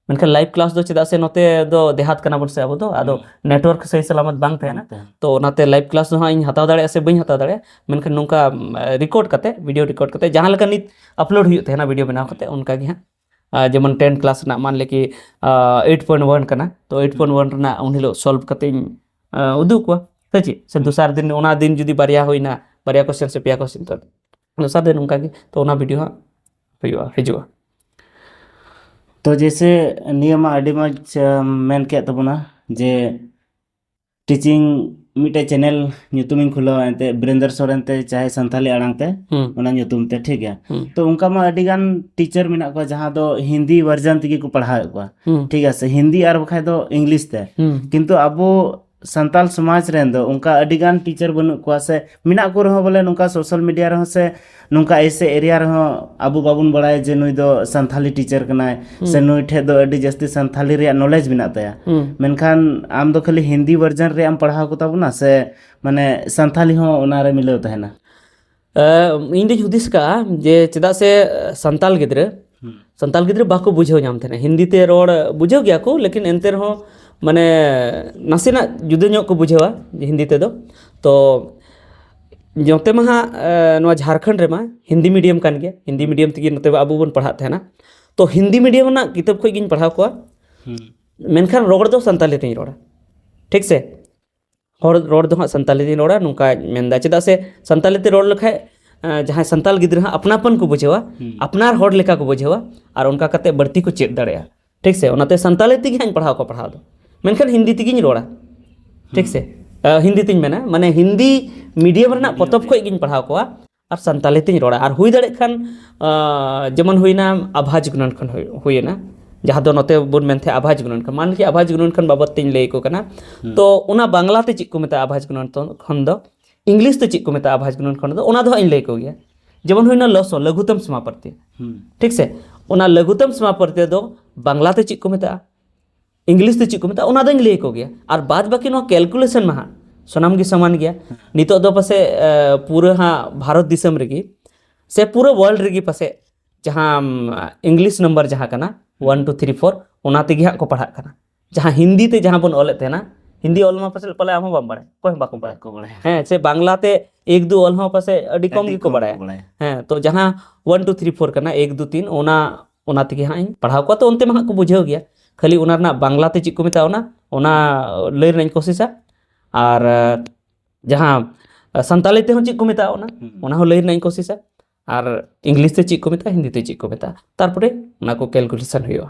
ᱢᱮᱱᱠᱷᱟᱱ ᱞᱟᱭᱤᱵᱷ ᱠᱞᱟᱥ ᱫᱚ ᱪᱮᱫᱟᱜ ᱥᱮ ᱱᱚᱛᱮ ᱫᱚ ᱫᱮᱦᱟᱛ ᱠᱟᱱᱟ ᱵᱚᱱ ᱥᱮ ᱟᱵᱚ ᱫᱚ ᱟᱫᱚ ᱱᱮᱴᱣᱟᱨᱠ ᱥᱟᱹᱦᱤ ᱥᱟᱞᱟᱢᱟᱛ ᱵᱟᱝ ᱛᱟᱦᱮᱱᱟ ᱛᱚ ᱚᱱᱟᱛᱮ ᱞᱟᱭᱤᱵᱷ ᱠᱞᱟᱥ ᱫᱚ ᱦᱟᱸᱜ ᱤᱧ ᱦᱟᱛᱟᱣ ᱫᱟᱲᱮᱭᱟᱜᱼᱟ ᱥᱮ ᱵᱟᱹᱧ ᱦᱟᱛᱟᱣ ᱫᱟᱲᱮᱭᱟᱜᱼᱟ ᱢᱮᱱᱠᱷᱟᱱ ᱱᱚᱝᱠᱟ ᱨᱮᱠᱚᱨᱰ ᱠᱟᱛᱮ ᱵᱷᱤᱰᱤᱭᱳ ᱨᱮᱠᱚᱨᱰ ᱠᱟᱛᱮ ᱡᱟᱦᱟᱸ ᱞᱮᱠᱟ ᱱᱤᱛ ᱟᱯᱞᱳᱰ ᱦᱩᱭᱩᱜ ᱛᱟᱦᱮᱱᱟ ᱵᱷᱤᱰᱤᱭᱳ ᱵᱮᱱᱟᱣ ᱠᱟᱛᱮ ᱚᱱᱠᱟ ᱜᱮ ᱦᱟᱸᱜ ᱡᱮᱢᱚᱱ ᱴᱮᱱ ᱠᱞᱟᱥ ᱨᱮᱱᱟᱜ ᱢᱟᱱᱞᱮ ᱠᱤ ᱮᱭᱤᱴ ᱯᱚᱭᱮᱱᱴ ᱚᱣᱟᱱ ᱠᱟᱱᱟ ᱛᱚ ᱮᱭᱤᱴ ᱯᱚᱭᱮᱱᱴ ᱚᱣᱟᱱ ᱨᱮᱱᱟᱜ ᱩᱱ ᱦᱤᱞᱳᱜ ᱥᱚᱞᱵᱷ ᱠᱟᱛᱮ ᱤᱧ ᱩᱫᱩᱜ ᱠᱚᱣᱟ ᱥᱮ ᱪᱮᱫ ᱥᱮ ᱫᱚᱥᱟᱨ ᱫᱤᱱ ᱚᱱᱟ ᱫᱤᱱ ᱡᱩᱫᱤ ᱵᱟᱨᱭᱟ ᱦᱩᱭᱱᱟ ᱵᱟᱨᱭᱟ ᱠᱚᱥᱪᱮᱱ ᱥᱮ ᱯᱮᱭᱟ ᱠᱚᱥᱪᱮᱱ ᱛᱚ ᱚᱱᱟ ᱥᱟᱶᱛᱮ ᱱᱚᱝᱠᱟ ᱜᱮ ᱛᱚ ᱚᱱᱟ ᱵᱷᱤᱰᱤᱭᱳ ᱦᱟᱸᱜ ᱦᱩᱭᱩᱜᱼᱟ ᱦᱤᱡᱩᱜᱼᱟ ᱛᱚ ᱡᱮᱭᱥᱮ ᱱᱤᱭᱟᱹ ᱢᱟ ᱟᱹᱰᱤ ᱢᱚᱡᱽ ᱢᱮᱱ ᱠᱮᱫ ᱛᱟᱵᱚᱱᱟ ᱡᱮ ᱴᱤᱪᱤᱝ ᱢᱤᱫᱴᱮᱡ ᱪᱮᱱᱮᱞ ᱧᱩᱛᱩᱢᱤᱧ ᱠᱷᱩᱞᱟᱹᱣᱟ ᱮᱱᱛᱮᱫ ᱵᱤᱨᱮᱱᱫᱨ ᱥᱚᱨᱮᱱ ᱛᱮ ᱪᱟᱦᱮ ᱥᱟᱱᱛᱟᱞᱤ ᱟᱲᱟᱝ ᱛᱮ ᱦᱩᱸ ᱚᱱᱟ ᱧᱩᱛᱩᱢ ᱛᱮ ᱴᱷᱤᱠ ᱜᱮᱭᱟ ᱦᱩᱸ ᱛᱚ ᱚᱱᱠᱟ ᱢᱟ ᱟᱹᱰᱤ ᱜᱟᱱ ᱴᱤᱪᱟᱨ ᱢᱮᱱᱟᱜ ᱠᱚᱣᱟ ᱡᱟᱦᱟᱸ ᱫᱚ ᱦᱤᱱᱫᱤ ᱵᱷᱟᱨᱡᱟᱱ ᱛᱮᱜᱮ ᱠᱚ ᱯᱟᱲᱦᱟᱣᱮᱫ ᱠᱚᱣᱟ ᱦᱩᱸ ᱴᱷᱤᱠ ᱟᱪᱷᱮ ᱦᱤᱱᱫᱤ ᱟᱨ ᱵᱟᱠᱷᱟᱡ ᱫᱚ ᱤᱝᱞᱤᱥ ᱛᱮ ᱦᱩᱸ ᱠᱤᱱᱛᱩ ᱟᱵᱚ ᱥᱟᱱᱛᱟᱞ ᱥᱚᱢᱟᱡᱽ ᱨᱮᱱ ᱫᱚ ᱚᱱᱠᱟ ᱟᱹᱰᱤ ᱜᱟᱱ ᱴᱤᱪᱟᱨ ᱵᱟᱹᱱᱩᱜ ᱠᱚᱣᱟ ᱥᱮ ᱢᱮᱱᱟᱜ ᱠᱚ ᱨᱮᱦᱚᱸ ᱵᱚᱞᱮ ᱱᱚᱝᱠᱟ ᱥᱳᱥᱟᱞ ᱢᱤᱰᱤᱭᱟ ᱨᱮᱦᱚᱸ ᱥᱮ ᱱᱚᱝᱠᱟ ᱮᱥᱮ ᱮᱨᱤᱭᱟ ᱨᱮᱦᱚᱸ ᱟᱵᱚ ᱵᱟᱵᱚᱱ ᱵᱟᱲᱟᱭᱟ ᱡᱮ ᱱᱩᱭ ᱫᱚ ᱥᱟᱱᱛᱷᱟᱞᱤ ᱴᱤᱪᱟᱨ ᱠᱟᱱᱟᱭ ᱥᱮ ᱱᱩᱭ ᱴᱷᱮᱡ ᱫᱚ ᱟᱹᱰᱤ ᱡᱟᱹᱥᱛᱤ ᱥᱟᱱᱛᱷᱟᱞᱤ ᱨᱮᱭᱟᱜ ᱱᱚᱞᱮᱡᱽ ᱢᱮᱱᱟᱜ ᱛᱟᱭᱟ ᱢᱮᱱᱠᱷᱟᱱ ᱟᱢ ᱫᱚ ᱠᱷᱟᱹᱞᱤ ᱦᱤᱱᱫᱤ ᱵᱷᱟᱨᱡᱟᱱ ᱨᱮᱭᱟᱜ ᱮᱢ ᱯᱟᱲᱦᱟᱣ ᱠᱚᱛᱟ ᱵᱚᱱᱟ ᱥᱮ ᱢᱟᱱᱮ ᱥᱟᱱᱛᱷᱟᱞᱤ ᱦᱚᱸ ᱚᱱᱟᱨᱮ ᱢᱤᱞᱟᱹᱣ ᱛᱟᱦᱮᱱᱟ ᱤᱧ ᱫᱚᱧ ᱦᱩᱫᱤᱥ ᱠᱟᱜᱼᱟ ᱡᱮ ᱪᱮᱫᱟᱜ ᱥᱮ ᱥᱟᱱᱛᱟᱲ ᱜᱤᱫᱽᱨᱟᱹ ᱥᱟᱱᱛᱟᱲ ᱜᱤᱫᱽᱨᱟᱹ ᱵᱟᱠᱚ ᱵᱩᱡᱷᱟᱹᱣ ᱧᱟᱢ ᱛᱟᱦᱮᱱᱟ ᱦᱤᱱᱫᱤ ᱛᱮ ᱨᱚᱲ ᱵᱩᱡᱷᱟᱹᱣ ᱜᱮᱭᱟ ᱠᱚ ᱞᱮᱠᱤᱱ ᱮᱱᱛᱮ ᱨᱮᱦᱚᱸ ᱢᱟᱱᱮ ᱱᱟᱥᱮᱱᱟᱜ ᱡᱩᱫᱟᱹ ᱧᱚᱜ ᱠᱚ ᱵᱩᱡᱷᱟᱹᱣᱟ ᱦᱤᱱᱫᱤ ᱛᱮᱫᱚ ᱛᱚ ᱱᱚᱛᱮ ᱢᱟ ᱦᱟᱸᱜ ᱱᱚᱣᱟ ᱡᱷᱟᱲᱠᱷᱚᱸᱰ ᱨᱮᱢᱟ ᱦᱤᱱᱫᱤ ᱢᱤᱰᱤᱭᱟᱢ ᱠᱟᱱ ᱜᱮᱭᱟ ᱦᱤᱱᱫᱤ ᱢᱤᱰᱤᱭᱟᱢ ᱛᱮᱜᱮ ᱱᱚᱛᱮ ᱟᱵᱚ ᱵᱚᱱ ᱯᱟᱲᱦᱟᱜ ᱛᱟᱦᱮᱱᱟ ᱛᱚ ᱦᱤᱱᱫᱤ ᱢᱤᱰᱤᱭᱟᱢ ᱨᱮᱱᱟᱜ ᱠᱤᱛᱟᱹᱵ ᱠᱷᱚᱡ ᱜᱤᱧ ᱯᱟᱲᱦᱟᱣ ᱠᱚᱣᱟ ᱢᱮᱱᱠᱷᱟᱱ ᱨᱚᱲ ᱫᱚ ᱥᱟᱱᱛᱟᱲᱤ ᱛᱤᱧ ᱨᱚᱲᱟ ᱴᱷᱤᱠ ᱥᱮ ᱦᱚᱲ ᱨᱚᱲ ᱫᱚ ᱦᱟᱸᱜ ᱥᱟᱱᱛᱟᱲᱤ ᱛᱮᱧ ᱨᱚᱲᱟ ᱱᱚᱝᱠᱟᱧ ᱢᱮᱱᱫᱟ ᱪᱮᱫᱟᱜ ᱥᱮ ᱥᱟᱱᱛᱟᱲᱤ ᱛᱮ ᱨᱚᱲ ᱞᱮᱠᱷᱟᱡ ᱡᱟᱦᱟᱸᱭ ᱥᱟᱱᱛᱟᱲ ᱜᱤᱫᱽᱨᱟᱹ ᱦᱟᱸᱜ ᱟᱯᱱᱟ ᱟᱯᱱ ᱠᱚ ᱵᱩᱡᱷᱟᱹᱣᱟ ᱟᱯᱱᱟᱨ ᱦᱚᱲ ᱞᱮᱠᱟ ᱠᱚ ᱵᱩᱡᱷᱟᱹᱣᱟ ᱟᱨ ᱚᱱᱠᱟ ᱠᱟᱛᱮ ᱵᱟᱹᱲᱛᱤ ᱠᱚ ᱪᱮᱫ ᱫᱟᱲᱮᱭᱟᱜᱼᱟ ᱴᱷᱤᱠ ᱥᱮ ᱚᱱᱟᱛᱮ ᱥᱟᱱᱛᱟᱲᱤ ᱛᱮᱜᱮ ᱦᱟᱸᱜ ᱤᱧ ᱯᱟᱲᱦᱟᱣ ᱠᱚᱣᱟ ᱯᱟᱲᱦᱟᱣ ᱫᱚ ᱢᱮᱱᱠᱷᱟᱱ ᱦᱤᱱᱫᱤ ᱛᱮᱜᱮᱧ ᱨᱚᱲᱟ ᱴᱷᱤᱠ ᱥᱮ ᱦᱤᱱᱫᱤ ᱛᱮᱧ ᱢᱮᱱᱟ ᱢᱟᱱᱮ ᱦᱤᱱᱫᱤ ᱢᱤᱰᱤᱭᱟᱢ ᱨᱮᱱᱟᱜ ᱯᱚᱛᱚᱵ ᱠᱷᱚᱡ ᱜᱮᱧ ᱯᱟᱲᱦᱟᱣ ᱠᱚᱣᱟ ᱟᱨ ᱥᱟᱱᱛᱟᱲᱤ ᱛᱤᱧ ᱨᱚᱲᱟ ᱟᱨ ᱦᱩᱭ ᱫᱟᱲᱮᱭᱟᱜ ᱠᱷᱟᱱ ᱡᱮᱢᱚᱱ ᱦᱩᱭᱱᱟ ᱟᱵᱷᱟ ᱡᱩᱜᱽᱱᱟᱱ ᱠᱷᱚᱱ ᱦᱩᱭᱱᱟ ᱡᱟᱦᱟᱸ ᱫᱚ ᱱᱚᱛᱮ ᱵᱚᱱ ᱢᱮᱱ ᱛᱟᱦᱮᱸᱜ ᱟᱵᱷᱟ ᱡᱩᱜᱽᱱᱟᱱ ᱠᱷᱚᱱ ᱢᱟᱱᱞᱤᱭᱟ ᱟᱵᱷᱟ ᱡᱩᱜᱽᱱᱟᱱ ᱠᱷᱚᱱ ᱵᱟᱵᱚᱫ ᱛᱤᱧ ᱞᱟᱹᱭ ᱟᱠᱚ ᱠᱟᱱᱟ ᱛᱚ ᱚᱱᱟ ᱵᱟᱝᱞᱟ ᱛᱮ ᱪᱮᱫ ᱠᱚ ᱢᱮᱛᱟᱜᱼᱟ ᱟᱵᱷᱟ ᱡᱩᱜᱽᱱᱟᱱ ᱠᱷᱚᱱ ᱫᱚ ᱤᱝᱞᱤᱥ ᱛᱮ ᱪᱮᱫ ᱠᱚ ᱢᱮᱛᱟᱜᱼᱟ ᱟᱵᱷᱟ ᱡᱩᱜᱽᱱᱟᱱ ᱠᱷᱚᱱ ᱫᱚ ᱚᱱᱟ ᱫᱚ ᱦᱟᱸᱜ ᱤᱧ ᱞᱟᱹᱭ ᱟᱠᱚ ᱜᱮᱭᱟ ᱡᱮᱢᱚᱱ ᱦᱩᱭᱱᱟ ᱞᱚᱥᱚ ᱞᱟᱹᱜᱷᱩᱛᱚᱢ ᱥᱚᱢᱟᱯᱟᱨᱛᱮ ᱴᱷᱤᱠ ᱥᱮ ᱚᱱᱟ ᱞᱟᱹᱜᱷᱩᱛᱚᱢ ᱥᱚᱢᱟᱯᱟᱨᱛᱮ ᱫᱚ ᱵᱟᱝᱞᱟ ᱛᱮ ᱪᱮᱫ ᱠᱚ ᱢᱮᱛᱟᱜᱼᱟ ᱤᱝᱞᱤᱥ ᱛᱮ ᱪᱮᱫ ᱠᱚ ᱢᱮᱛᱟᱜᱼᱟ ᱚᱱᱟ ᱫᱚᱧ ᱞᱟᱹᱭ ᱟᱠᱚ ᱜᱮᱭᱟ ᱟᱨ ᱵᱟᱫ ᱵᱟᱹᱠᱤ ᱱᱚᱣᱟ ᱠᱮᱞᱠᱩᱞᱮᱥᱚᱱ ᱢᱟ ᱦᱟᱸᱜ ᱥᱟᱱᱟᱢ ᱜᱮ ᱥᱚᱢᱟᱱ ᱜᱮᱭᱟ ᱱᱤᱛᱚᱜ ᱫᱚ ᱯᱟᱥᱮᱡ ᱯᱩᱨᱟᱹ ᱦᱟᱸᱜ ᱵᱷᱟᱨᱚᱛ ᱫᱤᱥᱚᱢ ᱨᱮᱜᱮ ᱥᱮ ᱯᱩᱨᱟᱹ ᱣᱟᱨᱞᱰ ᱨᱮᱜᱮ ᱯᱟᱥᱮᱡ ᱡᱟᱦᱟᱸ ᱤᱝᱞᱤᱥ ᱱᱟᱢᱵᱟᱨ ᱡᱟᱦᱟᱸ ᱠᱟᱱᱟ ᱚᱣᱟᱱ ᱴᱩ ᱛᱷᱨᱤ ᱯᱷᱳᱨ ᱚᱱᱟ ᱛᱮᱜᱮ ᱦᱟᱸᱜ ᱠᱚ ᱯᱟᱲᱦᱟᱜ ᱠᱟᱱᱟ ᱡᱟᱦᱟᱸ ᱦᱤᱱᱫᱤ ᱛᱮ ᱡᱟᱦᱟᱸ ᱵᱚᱱ ᱚᱞᱮᱫ ᱛᱟᱦᱮᱱᱟ ᱦᱤᱱᱫᱤ ᱚᱞ ᱢᱟ ᱯᱟᱥᱮᱡ ᱯᱟᱞᱮ ᱟᱢ ᱦᱚᱸ ᱵᱟᱢ ᱵᱟᱲᱟᱭ ᱚᱠᱚᱭ ᱦᱚᱸ ᱵᱟᱠᱚ ᱵᱟᱲᱟᱭ ᱠᱚ ᱵᱟᱲᱟᱭᱟ ᱦᱮᱸ ᱥᱮ ᱵᱟᱝᱞᱟ ᱛᱮ ᱮᱠ ᱫᱩ ᱚᱞ ᱦᱚᱸ ᱯᱟᱥᱮᱡ ᱟᱹᱰᱤ ᱠᱚᱢ ᱟᱹᱰᱤ ᱜᱮᱠᱚ ᱠᱚᱢ ᱠᱚ ᱵᱟᱲᱟᱭᱟ ᱵᱟᱲᱟᱭᱟ ᱦᱮᱸ ᱛᱚ ᱡᱟᱦᱟᱸ ᱚᱣᱟᱱ ᱴᱩ ᱛᱷᱨᱤ ᱯᱷᱳᱨ ᱠᱟᱱᱟ ᱮᱠ ᱫᱩ ᱛᱤᱱ ᱚᱱᱟ ᱚᱱᱟ ᱛᱮᱜᱮ ᱦᱟᱸᱜ ᱤᱧ ᱯᱟᱲᱦᱟᱣ ᱠᱚᱣᱟ ᱛᱚ ᱚᱱᱛᱮ ᱢᱟ ᱦᱟᱸᱜ ᱠᱚ ᱵᱩᱡᱷᱟᱹᱣ ᱜᱮᱭᱟ ᱠᱷᱟᱹᱞᱤ ᱚᱱᱟ ᱨᱮᱱᱟᱜ ᱵᱟᱝᱞᱟ ᱛᱮ ᱪᱮᱫ ᱠᱚ ᱢᱮᱛᱟᱜᱼᱟ ᱚᱱᱟ ᱚᱱᱟ ᱞᱟᱹᱭ ᱨᱮᱱᱟᱜ ᱤᱧ ᱠᱳᱥᱤᱥᱟ ᱟᱨ ᱡᱟᱦᱟᱸ ᱥᱟᱱᱛᱟᱞᱤ ᱛᱮᱦᱚᱸ ᱪᱮᱫ ᱠᱚ ᱢᱮᱛᱟᱜᱼᱟ ᱚᱱᱟ ᱚᱱᱟ ᱦᱚᱸ ᱞᱟᱹᱭ ᱨᱮᱱᱟᱜ ᱤᱧ ᱠᱳᱥᱤᱥᱟ ᱟᱨ ᱤᱝᱞᱤᱥ ᱛᱮ ᱪᱮᱫ ᱠᱚ ᱢᱮᱛᱟᱜᱼᱟ ᱦᱤᱱᱫᱤ ᱛᱮ ᱪᱮᱫ ᱠᱚ ᱢᱮᱛᱟᱜᱼᱟ ᱛᱟᱨᱯᱚᱨᱮ ᱚᱱᱟ ᱠᱚ ᱠᱮᱞᱠᱩᱞᱮᱥᱚᱱ ᱦᱩᱭᱩᱜᱼᱟ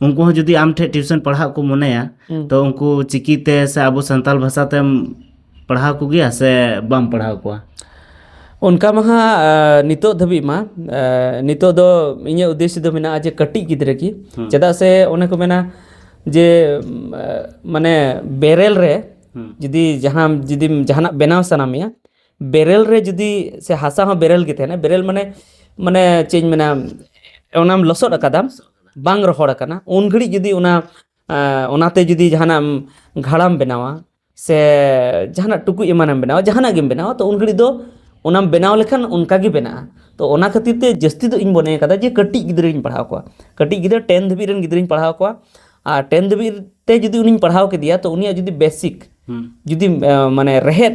ᱩᱱᱠᱩ ᱦᱚᱸ ᱡᱩᱫᱤ ᱟᱢ ᱴᱷᱮᱱ ᱴᱤᱭᱩᱥᱚᱱ ᱯᱟᱲᱦᱟᱜ ᱠᱚ ᱢᱚᱱᱮᱭᱟ ᱛᱚ ᱩᱱᱠᱩ ᱪᱤᱠᱤ ᱛᱮ ᱥᱮ ᱟᱵᱚ ᱥᱟᱱᱛᱟᱲ ᱵᱷᱟᱥᱟ ᱛᱮᱢ ᱯᱟᱲᱦᱟᱣ ᱠᱚᱜᱮᱭᱟ ᱥᱮ ᱵᱟᱢ ᱯᱟᱲᱦᱟᱣ ᱠᱚᱣᱟ ᱚᱱᱠᱟ ᱢᱟ ᱦᱟᱸᱜ ᱱᱤᱛᱚᱜ ᱫᱷᱟᱹᱵᱤᱡ ᱢᱟ ᱱᱤᱛᱚᱜ ᱫᱚ ᱤᱧᱟᱹᱜ ᱩᱫᱽᱫᱮᱥᱥᱚ ᱫᱚ ᱢᱮᱱᱟᱜᱼᱟ ᱡᱮ ᱠᱟᱹᱴᱤᱡ ᱜᱤᱫᱽᱨᱟᱹ ᱜᱮ ᱪᱮᱫᱟᱜ ᱥᱮ ᱚᱱᱮ ᱠᱚ ᱢᱮᱱᱟ ᱡᱮ ᱢᱟᱱᱮ ᱵᱮᱨᱮᱞ ᱨᱮ ᱡᱩᱫᱤ ᱡᱟᱦᱟᱸ ᱡᱩᱫᱤᱢ ᱡᱟᱦᱟᱱᱟᱜ ᱵᱮᱱᱟᱣ ᱥᱟᱱᱟ ᱢᱮᱭᱟ ᱵᱮᱨᱮᱞ ᱨᱮ ᱡᱩᱫᱤ ᱥᱮ ᱦᱟᱥᱟ ᱦᱚᱸ ᱵᱮᱨᱮᱞ ᱜᱮ ᱛᱟᱦᱮᱱᱟ ᱵᱮᱨᱮᱞ ᱢᱟᱱᱮ ᱢᱟᱱᱮ ᱪᱮᱫ ᱤᱧ ᱢᱮᱱᱟ ᱚᱱᱟᱢ ᱞᱚᱥᱚᱫ ᱟᱠᱟᱫᱟᱢ ᱵᱟᱝ ᱨᱚᱦᱚᱲ ᱟᱠᱟᱱᱟ ᱩᱱ ᱜᱷᱟᱹᱲᱤᱡ ᱡᱩᱫᱤ ᱚᱱᱟ ᱚᱱᱟᱛᱮ ᱡᱩᱫᱤ ᱡᱟᱦᱟᱱᱟᱜ ᱜᱷᱟᱲᱟᱢ ᱵᱮᱱᱟᱣᱟ ᱥᱮ ᱡᱟᱦᱟᱱᱟᱜ ᱴᱩᱠᱩᱡ ᱮᱢᱟᱱᱮᱢ ᱵᱮᱱᱟᱣᱟ ᱡᱟᱦᱟᱱᱟᱜ ᱜᱮᱢ ᱵᱮᱱᱟᱣᱟ ᱛᱚ ᱩᱱ ᱜᱷᱟᱹᱲᱤᱡ ᱫᱚ ᱚᱱᱟᱢ ᱵᱮᱱᱟᱣ ᱞᱮᱠᱷᱟᱱ ᱚᱱᱠᱟ ᱜᱮ ᱵᱮᱱᱟᱜᱼᱟ ᱛᱚ ᱚᱱᱟ ᱠᱷᱟᱹᱛᱤᱨ ᱛᱮ ᱡᱟᱹᱥᱛᱤ ᱫᱚ ᱤᱧ ᱢᱚᱱᱮ ᱠᱟᱫᱟ ᱡᱮ ᱠᱟᱹᱴᱤᱡ ᱜᱤᱫᱽᱨᱟᱹᱧ ᱯᱟᱲᱦᱟᱣ ᱠᱚᱣᱟ ᱠᱟᱹᱴᱤᱡ ᱜᱤᱫᱽᱨᱟᱹ ᱴᱮᱱ ᱫᱷᱟᱹᱵᱤᱡ ᱨᱮᱱ ᱜᱤᱫᱽᱨᱟᱹᱧ ᱯᱟᱲᱦᱟᱣ ᱠᱚᱣᱟ ᱟᱨ ᱴᱮᱱ ᱫᱷᱟᱹᱵᱤᱡ ᱛᱮ ᱡᱩᱫᱤ ᱩᱱᱤᱧ ᱯᱟᱲᱦᱟᱣ ᱠᱮᱫᱮᱭᱟ ᱛᱚ ᱩᱱᱤᱭᱟᱜ ᱡᱩᱫᱤ ᱵᱮᱥᱤᱠ ᱡᱩᱫᱤ ᱢᱟᱱᱮ ᱨᱮᱦᱮᱫ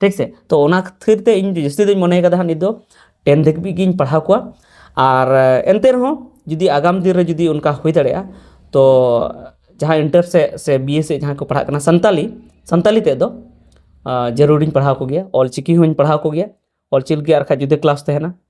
ᱴᱷᱤᱠ ᱥᱮ ᱛᱚ ᱚᱱᱟ ᱠᱷᱟᱹᱛᱤᱨ ᱛᱮ ᱤᱧ ᱡᱟᱹᱥᱛᱤ ᱫᱚᱧ ᱢᱚᱱᱮ ᱠᱟᱫᱟ ᱦᱟᱸᱜ ᱱᱤᱛ ᱫᱚ ᱴᱮᱱ ᱫᱷᱟᱹᱵᱤᱡ ᱜᱤᱧ ᱯᱟᱲᱦᱟᱣ ᱠᱚᱣᱟ ᱟᱨ ᱮᱱᱛᱮ ᱨᱮᱦᱚᱸ ᱡᱩᱫᱤ ᱟᱜᱟᱢ ᱫᱤᱱ ᱨᱮ ᱡᱩᱫᱤ ᱚᱱᱠᱟ ᱦᱩᱭ ᱫᱟᱲᱮᱭᱟᱜᱼᱟ ᱛᱚ ᱡᱟᱦᱟᱸ ᱤᱱᱴᱟᱨ ᱥᱮᱫ ᱥᱮ ᱵᱤᱭᱮ ᱥᱮᱫ ᱡᱟᱦᱟᱸᱭ ᱠᱚ ᱯᱟᱲᱦᱟᱜ ᱠᱟᱱᱟ ᱥᱟᱱᱛᱟᱞᱤ ᱥᱟᱱᱛᱟᱞᱤ ᱛᱮᱫ ᱫᱚ ᱡᱟᱹᱨᱩᱲᱤᱧ ᱯᱟᱲᱦᱟᱣ ᱠᱚᱜᱮᱭᱟ ᱚᱞᱪᱤᱠᱤ ᱦᱚᱸᱧ ᱯᱟᱲᱦᱟᱣ ᱠᱚᱜᱮᱭᱟ ᱚᱞᱪᱤᱠᱤ ᱟᱨ ᱵᱟᱠᱷᱟᱡ ᱡᱩᱫᱟᱹ ᱠᱞᱟᱥ ᱛᱟᱦᱮᱱᱟ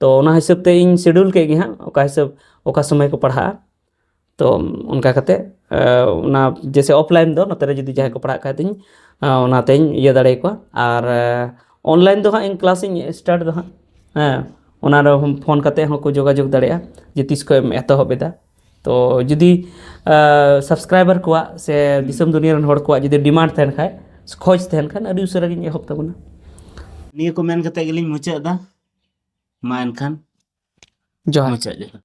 ᱛᱚ ᱚᱱᱟ ᱦᱤᱥᱟᱹᱵ ᱛᱮ ᱤᱧ ᱥᱤᱰᱩᱞ ᱠᱮᱫ ᱜᱮ ᱦᱟᱸᱜ ᱚᱠᱟ ᱦᱤᱥᱟᱹᱵ ᱚᱠᱟ ᱥᱚᱢᱚᱭ ᱠᱚ ᱯᱟᱲᱦᱟᱜᱼᱟ ᱛᱚ ᱚᱱᱠᱟ ᱠᱟᱛᱮ ᱚᱱᱟ ᱡᱮᱭᱥᱮ ᱚᱯᱷᱞᱟᱭᱤᱱ ᱫᱚ ᱱᱚᱛᱮ ᱨᱮ ᱡᱩᱫᱤ ᱡᱟᱦᱟᱸᱭ ᱠᱚ ᱯᱟᱲᱦᱟᱜ ᱠᱷᱟᱡ ᱫᱚᱧ ᱚᱱᱟᱛᱮᱧ ᱤᱭᱟᱹ ᱫᱟᱲᱮ ᱠᱚᱣᱟ ᱟᱨ ᱚᱱᱞᱟᱭᱤᱱ ᱫᱚ ᱦᱟᱸᱜ ᱤᱧ ᱠᱞᱟᱥ ᱤᱧ ᱥᱴᱟᱨᱴ ᱫᱟ ᱦᱟᱸᱜ ᱦᱮᱸ ᱚᱱᱟ ᱨᱮᱦᱚᱸ ᱯᱷᱳᱱ ᱠᱟᱛᱮ ᱦᱚᱸᱠᱚ ᱡᱳᱜᱟᱡᱳᱜᱽ ᱫᱟᱲᱮᱭᱟᱜᱼᱟ ᱡᱮ ᱛᱤᱥ ᱠᱷᱚᱡ ᱮᱢ ᱮᱛᱚᱦᱚᱵ ᱮᱫᱟ ᱛᱚ ᱡᱩᱫᱤ ᱥᱟᱵᱥᱠᱨᱟᱭᱵᱟᱨ ᱠᱚᱣᱟᱜ ᱥᱮ ᱫᱤᱥᱚᱢ ᱫᱩᱱᱤᱭᱟᱹ ᱨᱮᱱ ᱦᱚᱲ ᱠᱚᱣᱟᱜ ᱡᱩᱫᱤ ᱰᱤᱢᱟᱱᱰ ᱛᱟᱦᱮᱱ ᱠᱷᱟᱡ ᱠᱷᱚᱡᱽ ᱛᱟᱦᱮᱱ ᱠᱷᱟᱱ ᱟᱹᱰᱤ ᱩᱥᱟᱹᱨᱟ ᱜᱤᱧ ᱮᱦᱚᱵ ᱛᱟᱵᱚᱱᱟ ᱱᱤᱭᱟᱹ ᱠᱚ ᱢᱮᱱ ᱠᱟᱛᱮ ᱜᱮᱞᱤᱧ ᱢᱩᱪᱟᱹᱫ ᱮᱫᱟ ᱢᱟ ᱮᱱᱠᱷᱟᱱ ᱡᱚᱦᱟᱨ ᱢᱩᱪᱟᱹᱫ ᱡᱚᱦᱟᱨ